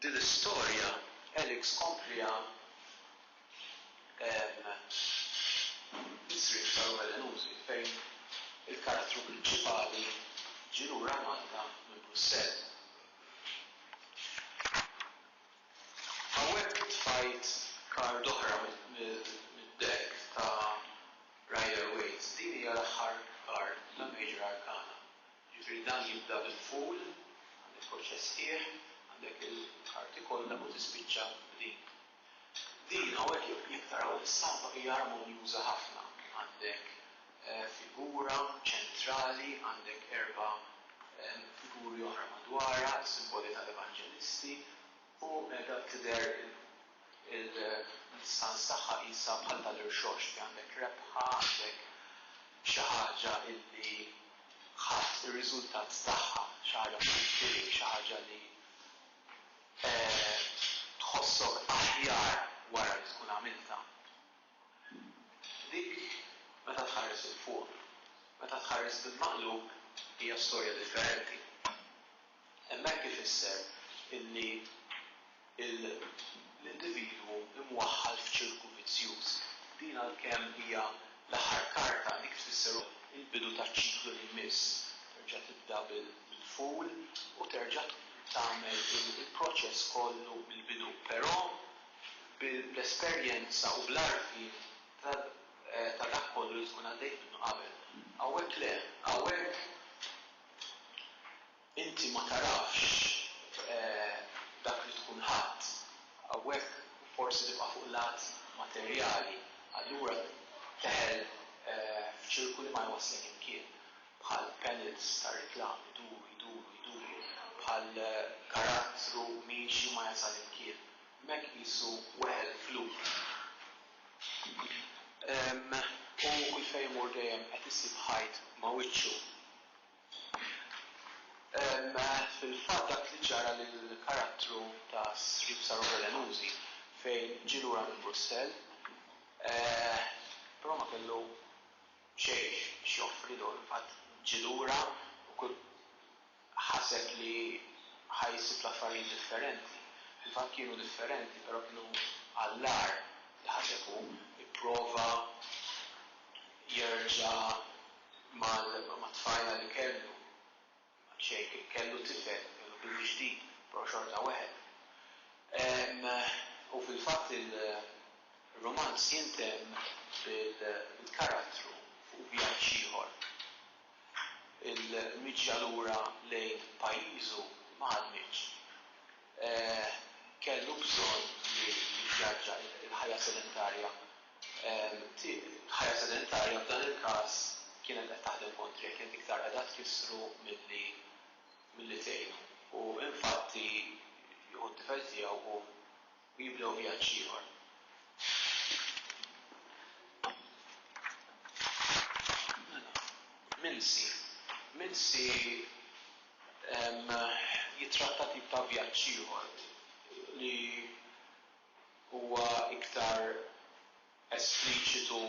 Din l-istorja Alex kompliha bis-sriep saru-velenużi fejn il-karattru prinċipali ġie lura Malta minn Brussell. Hawnhekk tfajt kard oħra mid-deck ta' Rider Waite. Din hija l-aħħar kard ta' Major Arcana. Jiġifieri dan jibda bil-Fool, għandek tħodd x'esħiħ, għandek il-karti kollha u tispiċċa b'din. Din hawnhekk jekk taraw l-istampa hija armonjuża ħafna. Għandek figura ċentrali, għandek erba' figuri oħra madwarha, simboli tal-evanġelisti, u qiegħda tidher il-distanz tagħha qisha bħal tal-irxoxt li għandek rebħa, għandek xi ħaġa li ħadt ir-riżultat tagħha, xi ħaġa fil-firi, xi ħaġa li tħossok aħjar wara li tkun għamiltha. Dik meta tħares 'il fuq. Meta tħares bil-maqlub hija storja differenti. Hemmhekk ifisser illi l-individwu imwaħħal f'ċirku vizzjuż. Din għalkemm hija l-aħħar karta, dik tfisser ukoll il-bidu taċ-ċiklu li jmiss. Terġa' tibda bil-full u terġa' tagħmel il-proċess kollu mill-bidu. Però. bl-esperjenza u bl-għarfien ta' dak kollu li tkun għaddejt minnu qabel. Hawnhekk le. Hawnhekk inti ma tarafx dak li tkun ħadt. Hawnhekk forsi tibqa' fuq lat materjali. Allura teħel f'ċirku li ma jwasslek imkien. bħal pellets ta' reklam iduru, jduru, jduru, bħal karattru miexi ma jasal imkien, m'hekk qisu weħel f'loop. U kull fejn imur dejjem qed isib ħajt ma' wiċċu. Fil-fatt dak li ġara lill-karattru ta' Srip Sarope Lenuzi fejn ġie lura minn Brussell, però ma kellu, Xejn x'joffri dun, qatt ġie lura u kull ħaseb li ħa jsib l-affarijiet differenti. Fil-fatt kienu differenti, però kienu għall-agħar li ħaseb hu. Ipprova jerġa' mat-tfajla li kellu. Sheikh kellu tifel, kellu bibi ġdid, però xorta weħel. U fil-fatt il-rumanz jintemm bil-karattru fuq vjaġġ ieħor. Il-miġja lura lejn pajjiżu ma ħadmitx. Kellu bżonn li jivvjaġġa, il-ħajja sedentarja. Ħajja sedentarja f'dan il-każ kienet qed taħdem kontrih, kienet iktar qiegħda tkissru milli milli tgħinu. U infatti jieħu t-tifel tiegħu u u jibdew vjaġġ ieħor. Minsi, Minsi jittratta tip ta' vjaġġ ieħor li huwa iktar espliċitu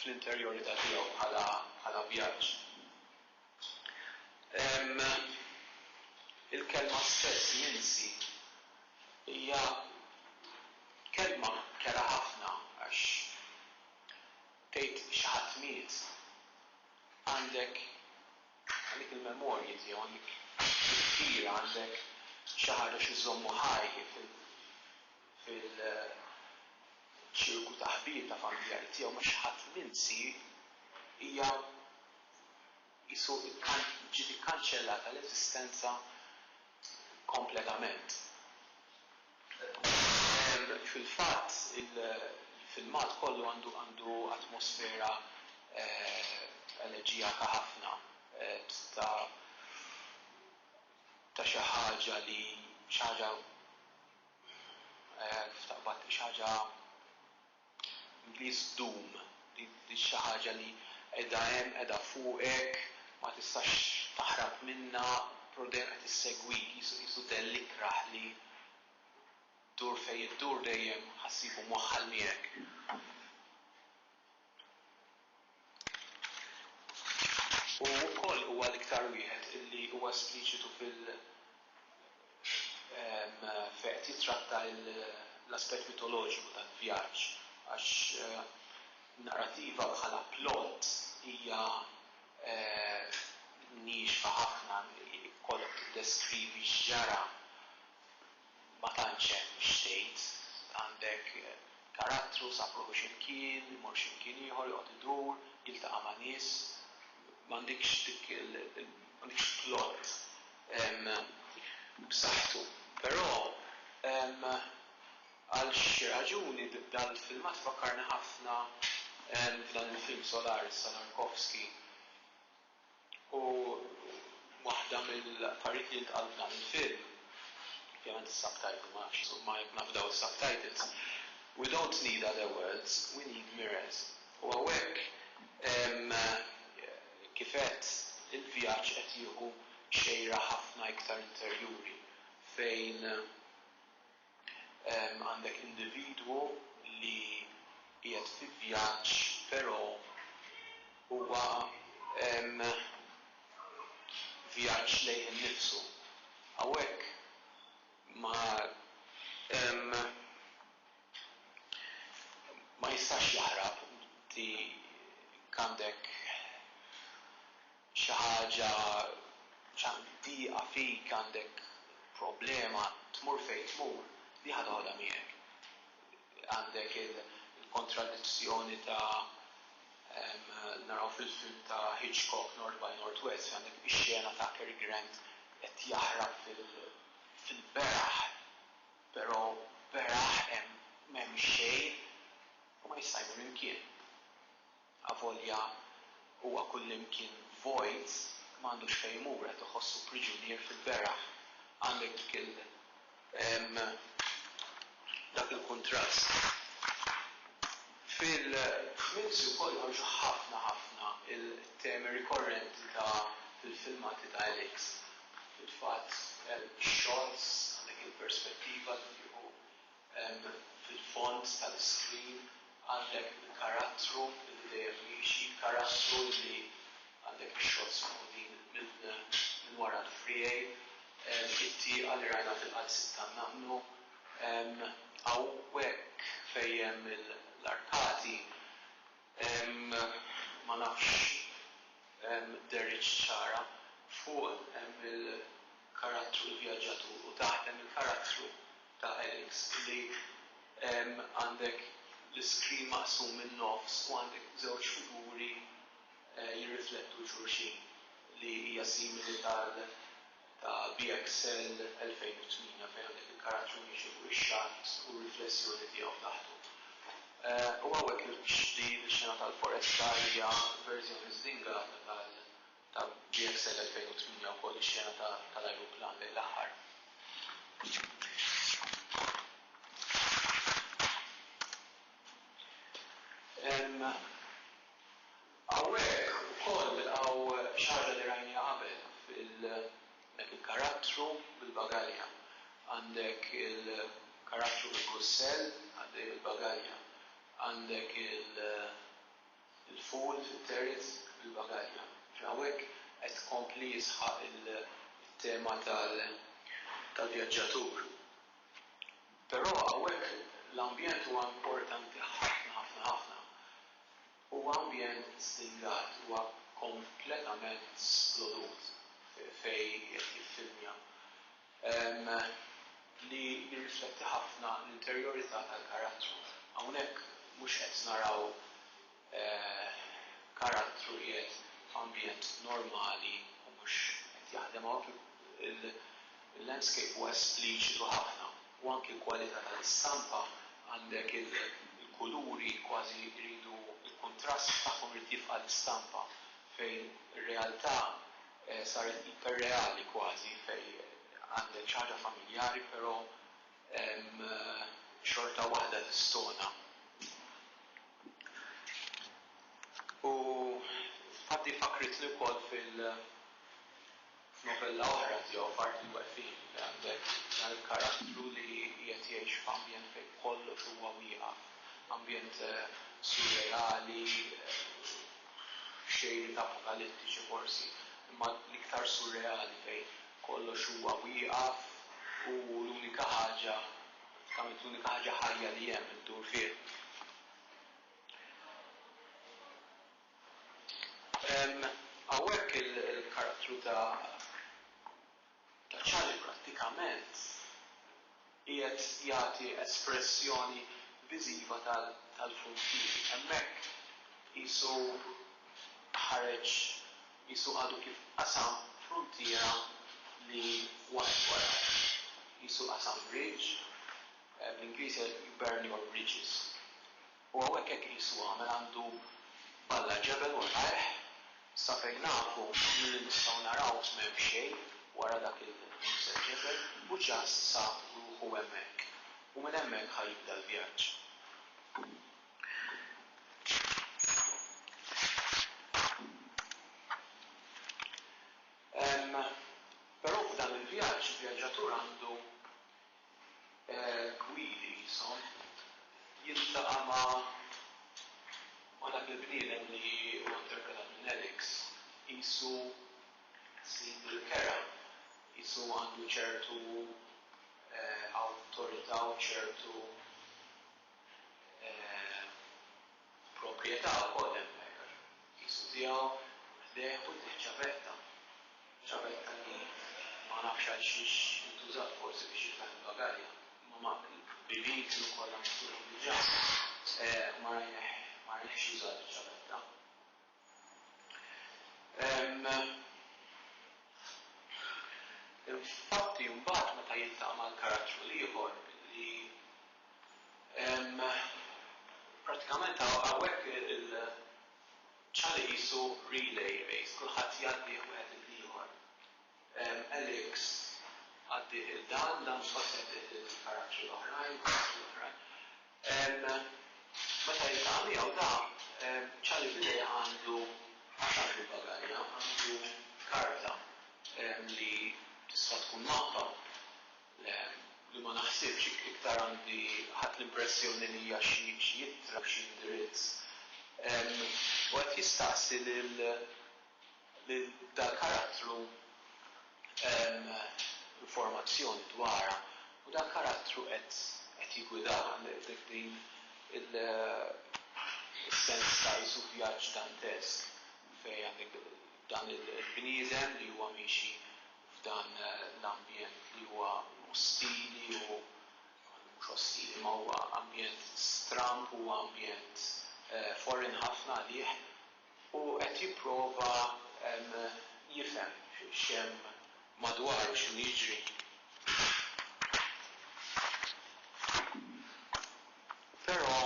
fl-interjorità tiegħu bħala vjaġġ. Il-kelma stess, minsi, hija kelma kerha ħafna għax tgħid xi ħadd miet, għandek Għalik il-memorji tiegħu dik il-kbira għandek xi ħaġa xi żżommu ħaj fil-ċirku ta' ħbieb ta' familjari tiegħu ma xi ħadd minsi hija qisu ġiet ikkanċellata l-eżistenza kompletament. Fil-fatt il-filmat kollu għandu għandu atmosfera eleġijaka ħafna ta' ta' xi ħaġa li xi ħaġa kif taqbad xi ħaġa li ddum, li xi ħaġa li qiegħda hemm, qiegħda fuqek, ma tistax taħrab minnha, però dejjem qed issegwik, qisu qisu dell ikrah li ddur fejn iddur dejjem ħa ssibu mwaħħal miegħek. U wkoll huwa l-iktar wieħed li huwa espliċitu fil fejn qed jittratta l-aspett mitoloġiku tal-vjaġġ għax narrativa bħala plot hija niexifa ħafna, jkollok tiddeskrivi x'ġara. ma tantx hemm x'tgħid, għandek karattru, sab ruħu xi mkien, imur xi mkien ieħor, joqgħod idur, jiltaqa' ma' nies, m'għandekx dik m'għandekx plot b'saħħtu. Però għal xi raġuni dal filmat fakkarni ħafna f'dan il-film Solaris ta' Tarkovsky. U waħda mill-affarijiet li jintqalu f'dan il-film, ovvjament is-subtitle ma nafx, insomma jekk nafdaw is-subtitles, We don't need other worlds, we need mirrors. U hawnhekk, kif għedt, il-vjaġġ qed jieħu xejra ħafna iktar interjuri fejn, Għandek individwu li qiegħed fi vjaġġ però huwa vjaġġ lejh innifsu. Hawnhekk ma ma jistax jaħrab, inti għandek. xi ħaġa ċantiqa fik, għandek problema, tmur fejn tmur, di ħa toħodha miegħek. Għandek il-kontradizzjoni ta' naraw fil-film ta' Hitchcock North by Northwest fejn għandek ix-xena ta' Cary Grant qed jaħrab fil-beraħ, però beraħ hemm m'hemm xejn u ma jista' jmur imkien. Avolja huwa kullimkien vojt, m'għandux fejn imur, qed iħossu priġunier fil-beraħ. Għandek dik il, dak il-kuntrast. Fil-Kmilzi wkoll jħarġu ħafna ħafna il-temi rikorrenti ta' fil-filmati ta' Alex. Fil-fatt, ix-xots, għandek il-perspettiva li jieħu Hemm fil-fond tal-iskrin għandek il-karattru li dejjem miexi, karattru li għandek ix-shots maħudin minn wara l-friegħi, it-tieqa li rajna fil-qalsiet tan-naqnu. Hawnhekk fejn hemm l-arkati. Ma nafx dehritx ċara. Fuq hemm il-karattru l-vjaġġatur u taħt hemm il-karattru ta' Alex li għandek l-iskrin maqsum min-nofs u għandek żewġ figuri jirriflettu xulxin li hija simili tal. ta' BXL 2008 fejn għandek il-karattru miexi fuq ix-xatt u r-riflessjoni tiegħu taħtu. U hawnhekk il-qxti, l-xena tal-foresta hija verżjoni żdinga ta' BXL 2008 wkoll ix-xena tal-ajruplan lejn l-aħħar. Hawnhekk ukoll nilqgħu xi ħaġa li rajniha qabel fil dak il-karattru bil-bagalja. Għandek il-karattru bil-kussell għaddej bil-bagalja. Għandek il-fool fit-terz bil-bagalja. Ġifieri hawnhekk qed kompli jisħaq it-tema tal-vjaġġatur. Però hawnhekk l-ambjent huwa importanti ħafna ħafna ħafna. Huwa ambjent stingat, huwa kompletament splodut fejn qiegħed jiffilmja, li jirrifletti ħafna l-interjorità tal-karattru. Hawnhekk mhux qed naraw karattru li qiegħed f'ambjent normali u mhux qed jaħdem, hawn il-landscape huwa espliċitu ħafna. u anki l-kwalità tal-istampa, għandek il-kuluri kważi jridu l-kuntrast tagħhom irid jifqa' l-istampa fejn ir-realtà saret iperreali kważi fejn għandek xi ħaġa familjari però xorta waħda tistona. U infatti fakkritni wkoll fil. F'novella oħra tiegħu f'Art il-Waqfien għandek dan il-karattru li qiegħed jgħix f'ambjent fejn kollox huwa wieqaf, ambjent surreali, b'xejriet apokalittiċi forsi, imma l-iktar surreali fejn kollox huwa wieqaf u l-unika ħaġa, bażikament l-unika ħaġa ħajja li hemm iddur fih. Hawnhekk il-karattru ta' Charlie prattikament qiegħed jagħti espressjoni viżiva tal-frontieri. Hemmhekk qisu ħareġ, qisu għadu kif qasam fruntiera li waqgħet wara. Qisu qasam bridge, bl-Ingliż jgħidu burn your bridges. U hawnhekk hekk qisu għamel għandu b'Alla ġebel u rajh, sa fejn nafu u milli nistgħu naraw m'hemm xejn wara dak il-Musa ġebel u just sab ruħu hemmhekk u minn hemmhekk ħa jibda l-vjaġġ. Però f'dan il-vjaġġ il-vjaġġatur għandu gwidi jisom jiltaqa' ma' ma' dak il-bniedem li huwa interpretat minn Alex qisu sid il-kera, qisu għandu ċertu awtorità u ċertu Proprjetà wkoll hemmhekk għax qisu tiegħu ħdejh u ħdejh ċavetta. Ċavetta li ma nafx għal xiex intużat forsi biex jitlaħ il-bagalja. Imma ma l-bibien kienu kollha miftuħin diġà u ma rajnejh ma rajnejhx jużat iċ-ċavetta. Hemm infatti mbagħad meta jiltaqa' mal-karattru l-ieħor li prattikament hawnhekk il-ċali qisu relay race, kulħadd jgħaddih wieħed lill-ieħor. Alex, Għaddi lil dan, dan mhux ħadd jgħaddih lill-karattri l-oħrajn, l-karattri l-oħrajn. Meta jiltaqa' miegħu dan, Charlie Billy għandu ħafna fil-bagalja, għandu karta li tista' tkun mappa li ma naħsibx iktar għandi ħadt l-impressjoni li hija xi ittra, xi indirizz. U qed jistaqsi lil. li dal-karattru hemm informazzjoni dwarha u dal-karattru qed jiggwidana dik din is-sens ta' qisu vjaġġ dantesk fejn għandek dan il-bniedem li huwa miexi f'dan l-ambjent li huwa ostili u mhux ostili imma huwa ambjent stramb, huwa ambjent foreign ħafna għalih. u qed jipprova jifhem x'hemm madwaru, x'inhu jiġri. Però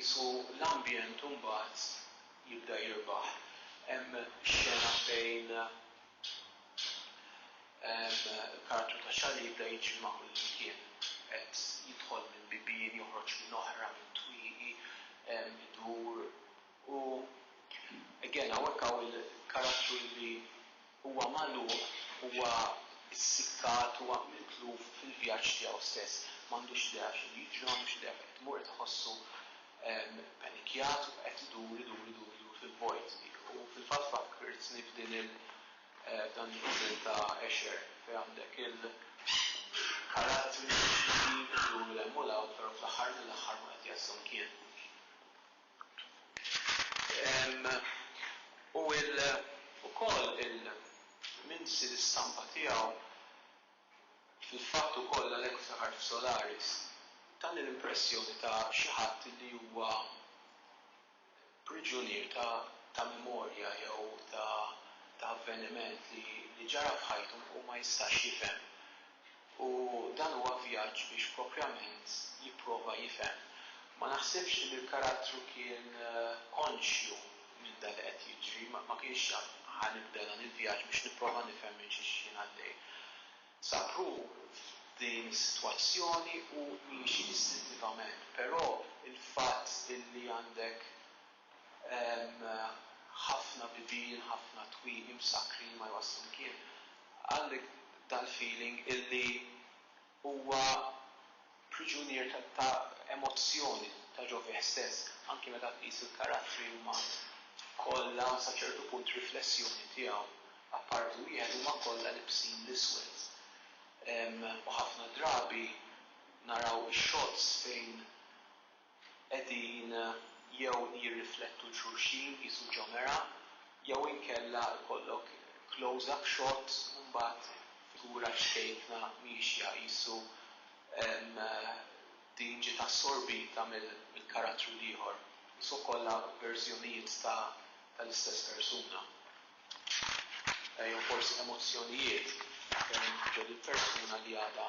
qisu l-ambjent imbagħad jibda jirbaħ. Hemm xena fejn. Kartu ta' xagħar li jibda jiġri ma' kull imkien. Qed jidħol minn bibien, joħroġ minn oħra, minn twieqi, idur u again hawnhekk hawn il-karattru li huwa magħluq, huwa ssikkat, huwa mitluf fil-vjaġġ tiegħu stess. M'għandux idea x'inhu jiġri, m'għandux idea fejn qed imur, qed iħossu ppanikjat u qed idur, idur, idur, idur fil-vojt. U fil-fatt fakkirtni f'din il. F'dan il-Kunsill ta' Esher fejn għandek il-karattri li jduru 'l hemm u 'l hawn però fl-aħħar mill-aħħar ma qed jaslu mkien. U wkoll il-minsi l-istampa tiegħu fil-fatt ukoll għalhekk ftakart f'Solaris tani l-impressjoni ta' xi ħadd li huwa priġunier ta' memorja jew ta' avveniment li ġara f'ħajtu u ma jistax jifhem. U dan huwa vjaġġ biex proprjament jipprova jifhem. Ma naħsibx li l-karattru kien konxju minn dak li qed jiġri, ma kienx jaf ħa nibda dan il-vjaġġ biex nipprova nifhem minn xiex jien għaddej. Saru f'din is-sitwazzjoni u miexi distintivament, però il-fatt illi għandek ħafna bibien, ħafna twieqi msakkrin ma jwasslu mkien, għandek dal-feeling illi huwa priġunier ta' emozzjoni ta' ġo fih stess, anki meta tqis il-karattri huma kollha sa ċertu punt riflessjoni tiegħu, apparti wieħed huma kollha libsin l-iswed. U ħafna drabi naraw ix-shots fejn qegħdin jew jirriflettu l-xulxin qisu ġomera jew inkella ikollok close up shot u mbagħad figura ċkejkna miexja qisu din ġiet assorbita mill-karattru l-ieħor. Qishom kollha verżjonijiet tal-istess persuna jew forsi emozzjonijiet ġo din il-persuna li għadha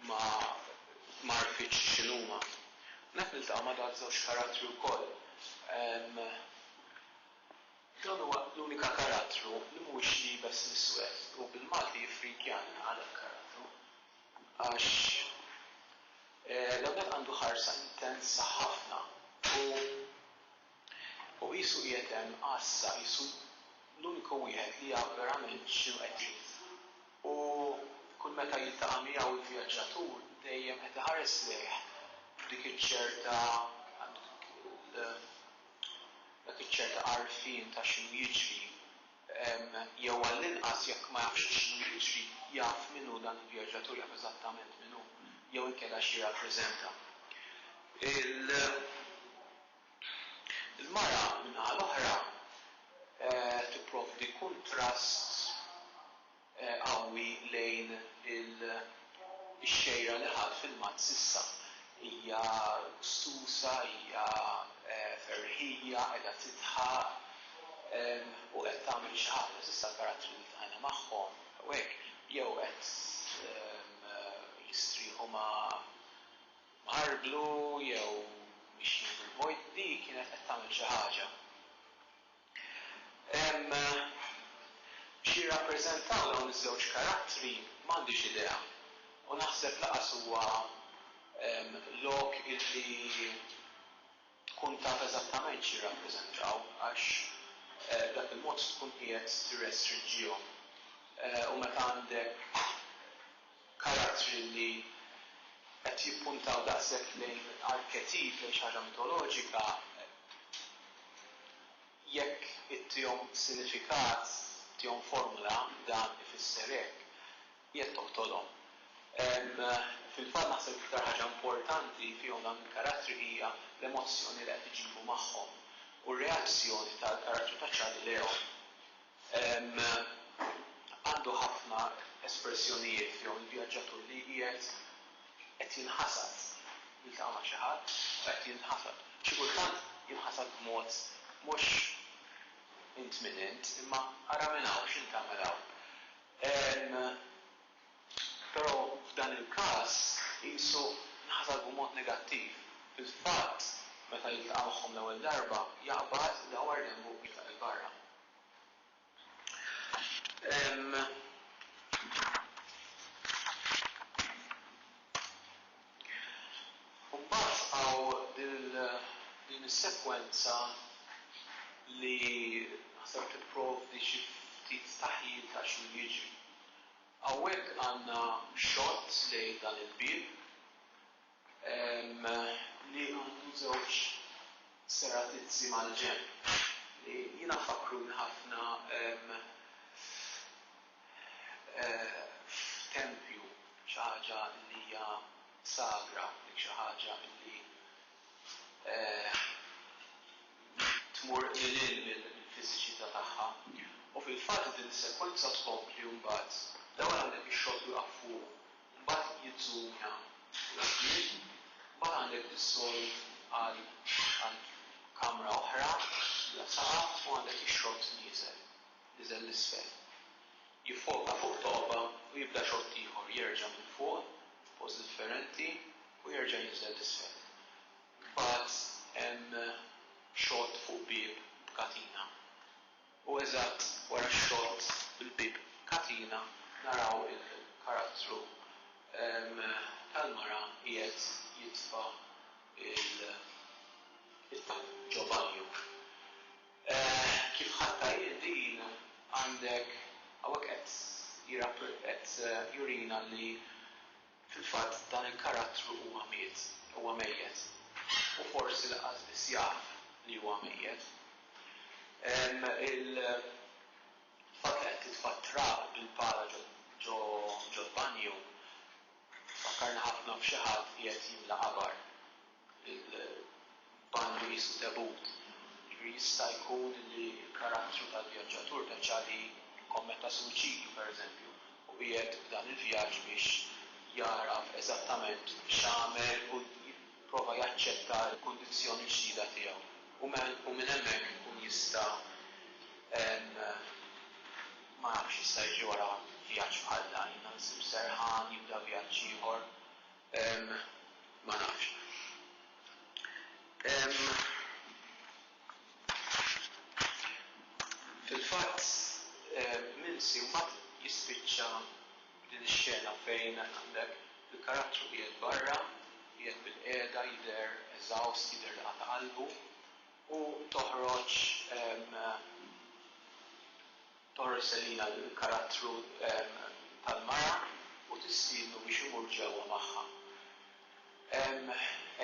ma għarfitx x'inhuma. U hekk niltaqa' ma' dal żewġ karattri wkoll. Dan huwa l-unika karattru li mhuwiex liebes l-iswed u bil-Malti jiffrikjani għal hekk karattru għax l-ewwel għandu ħarsa intensa ħafna u u qisu qiegħed hemm għassa qisu l-uniku wieħed li jaf verament x'inhu qed jgħid. u kull meta jiltaqa' miegħu l-vjaġġatur dejjem qed iħares lejh b'dik iċ-ċerta dak iċ-ċerta għarfien ta' x'inhu jiġri, jew għall-inqas jekk ma jafx x'inhu jiġri jaf min hu dan il-vjaġġatur, jaf eżattament min hu, jew inkella x'jirrappreżenta. Il. Il-mara, min-naħa l-oħra, tipprovdi kuntrast qawwi lejn ix-xejra li ħadt filmat s'issa. Hija gstuża, hija ferħija, qiegħda tidħaq u qed tagħmel xi ħaġa. S'issa l-karattri li ltqajna magħhom hawnhekk jew qed jistrieħu ma' mħarblu jew mixjin fil-vojt, di kienet qed tagħmel xi ħaġa. Hemm x'jirrappreżentaw dawn iż-żewġ karattri m'għandix idea u naħseb lanqas huwa lok illi tkun taf eżattament x'jirrappreżentaw għax b'dak il-mod tkun qiegħed tirrestrinġihom. U meta għandek karattri li qed jippuntaw daqshekk lejn arketip, lejn xi ħaġa mitoloġika, jekk ittihom sinifikat, ittihom formula, dan ifisser hekk. Jekk toqtolhom. Fil-fatt naħseb l-iktar ħaġa importanti fihom dawn il-karattri hija l-emozzjoni li qed iġibu magħhom u r-reazzjoni tal-karattru ta' Charlie lejhom. Għandu ħafna espressjonijiet fihom il-vjaġġatur li qiegħed qed jinħasad, jiltaqa' ma' xi ħadd u qed jinħasad. Xi kultant jinħasad b'mod mhux int min int imma ara minn hawn x'int tagħmel hawn. Però f'dan il-każ qisu nħasad b'mod negattiv. Fil-fatt, meta jiltaqa' magħhom l-ewwel darba, jaqbad idawwar denbu u jitlaq 'il barra. U mbagħad hawn din is-sekwenza li naħseb tipprovdi xi ftit taħjil ta' x'inhu jiġri. Hawnhekk għandna xott lejn dan il-bieb li għandu żewġ seratizzi mal-ġenb li jiena fakkruni ħafna f'tempju, xi ħaġa li hija sagra, dik xi ħaġa li tmur lil hinn mill-fiżiċità tagħha. U fil-fatt din is-sekwenza tkompli mbagħad, l-ewwel għandek ix-xott wieqaf fuq, mbagħad jiżżumja 'l quddiem, mbagħad għandek dissolve għal kamra oħra bla saqaf u għandek ix-xott nieżel. niżel 'l isfel. Jiffoka fuq togħba u jibda xott ieħor jerġa' minn fuq f'post differenti u jerġa' jinżel 'l isfel. Mbagħad hemm xott fuq bieb b'katina. U eżatt wara x-xott bil-bieb b'katina naraw il-karattru tal-mara qiegħed jitfa' it-talb ġo banju. Eeh kif ħadt tajjeb din għandek hawnhekk qed jirap qed jurina li fil-fatt dan il-karattru huwa miet, huwa mejjet u forsi laqqas biss jaf li huwa mejjet. Ehm il-fatt li qed titfa' t-trab bil-pala ġo ġo ġol-banju tfakkarna ħafna f'xi ħadd qiegħed jimla qabar. il-banju qisu debut, jiġifieri jista' jkun li l-karattru tal-vjaġġatur veċa li kkommetta suwiċidju, pereżempju, u qiegħed f'dan il-vjaġġ biex jagħraf eżattament x'għamel u jipprova jaċċetta l-kundizzjoni l-ġdida tiegħu u u minn hemmhekk ikun jista' ma nafx x'jista' jiġi wara vjaġġ bħal dan, jibda jsib serħan, jibda vjaġġ ieħor. Ehm, ma nafx. Ehm, fil-fatt, Milsi mbagħad jispiċċa b'din ix-xena fejn għandek il-karattru qiegħed barra, qiegħed bilqiegħda, jidher eżawst, jidher li qata' qalbu, u toħroġ, ehm, Torres Elina l-karattru tal-mara u tistiednu biex imur ġewwa magħha.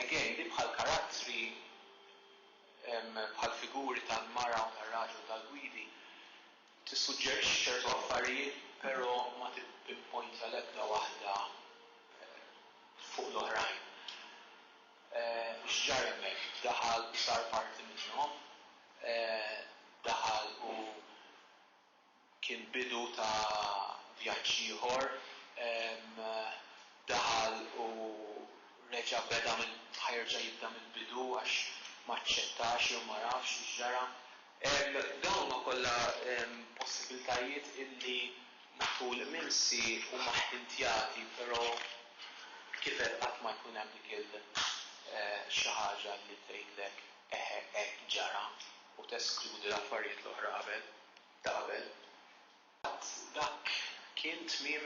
Again, li bħal karattri bħal figuri tal-mara u tar-raġel tal-gwidi tissuġġerixxi ċertu affarijiet pero ma tippinpointja l-ebda waħda fuq l-oħrajn. X'ġara hemmhekk? Daħal u sar parti minnhom? Daħal u kien bidu ta' vjaġġ ieħor? Daħal u reġa' beda mill-, ħa jerġa' jibda mill-bidu għax m'aċċettax jew ma nafx x'ġara? Dawn huma kollha possibiltajiet illi matul imsi huma ħtintjati però kif għedt qatt ma jkun hemm dik il xi ħaġa li tgħidlek eħe hekk ġara u teskludi l-affarijiet l-oħra qabel ta' qabel. Qatt dak kien tmiem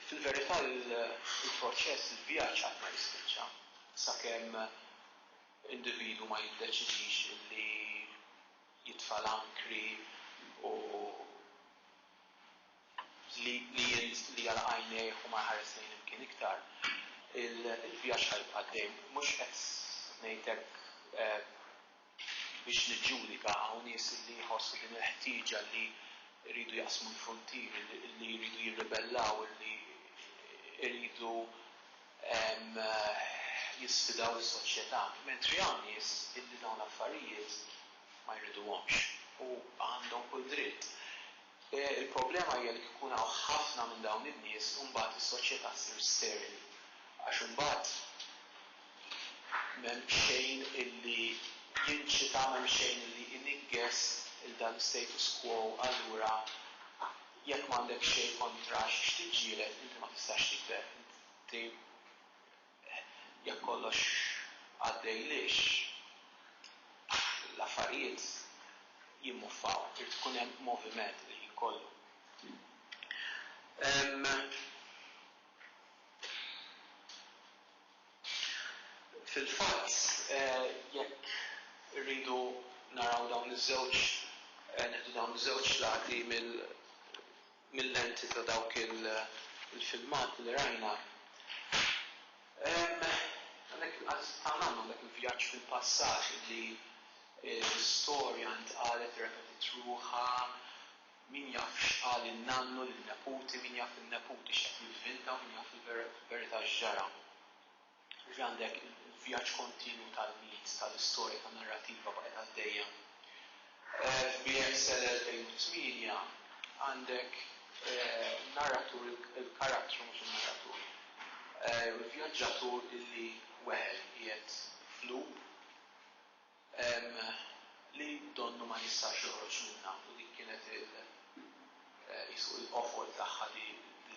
fil-verità il-proċess il-vjaġġ qatt ma jispiċċa sakemm. individwu ma jiddeċidix li jitfa' l-ankri u li li jagħlaq għajnejh u ma jħares lejn imkien iktar, il-vjaġġ ħa jibqa' għaddej. Mhux qed ngħid hekk biex niġġudika, hawn nies li jħossu din il-ħtieġa li jridu jaqsmu l-fruntieri, li jridu jirribellaw, li jridu. jisfidaw is-soċjetà, mentri hawn nies illi dawn l-affarijiet ma jriduhomx u għandhom kull dritt. Il-problema hija li kif ikun hawn ħafna minn dawn in-nies imbagħad is-soċjetà ssir sterili għax imbagħad m'hemm xejn illi jinċita, m'hemm xejn illi jniggess lil dan l-istatus quo allura. Jekk m'għandek xejn kontra xiex tiġġieled, inti ma tistax tikber. Inti jekk kollox għaddej lisċ, l-affarijiet jimmuffaw. Irid ikun hemm moviment il-ħin kollu. Fil-fatt, jekk irridu naraw dawn iż-żewġ, nieħdu dawn iż-żewġ lati mill-lenti ta' dawk il-filmati li rajna, hemm għalhekk tagħna għandna dak il-vjaġġ fil-passat li l-istorja ntqalet, repetit ruħha, Min jaf x'qal in-nannu lin-neputi, min jaf in-neputi x'qed jivvinta u min jaf il-verità x'ġara. Jiġifieri għandek il-vjaġġ kontinwu tal-mit, tal-istorja, tan-narrattiva baqgħet għaddejja. F'BXL 2008 għandek in-narratur, il-karattru mhux in-narratur, jew il-vjaġġatur illi weħel qiegħed f'loop. Hemm li donnu ma jistax joħroġ minnha u dik kienet il qisu il-qofol tagħha li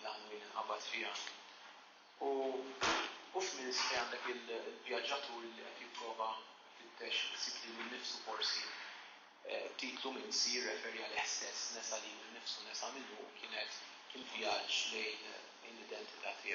l-għanwien inqabad fiha. U u f'Minsk fejn għandek il-vjaġġatur li qed jipprova ifittex isib lilu nnifsu forsi, it-titlu Minsk jirreferi għalih stess, nesa lilu nnifsu, nesa minnu u kienet il-vjaġġ lejn l-identità tiegħu.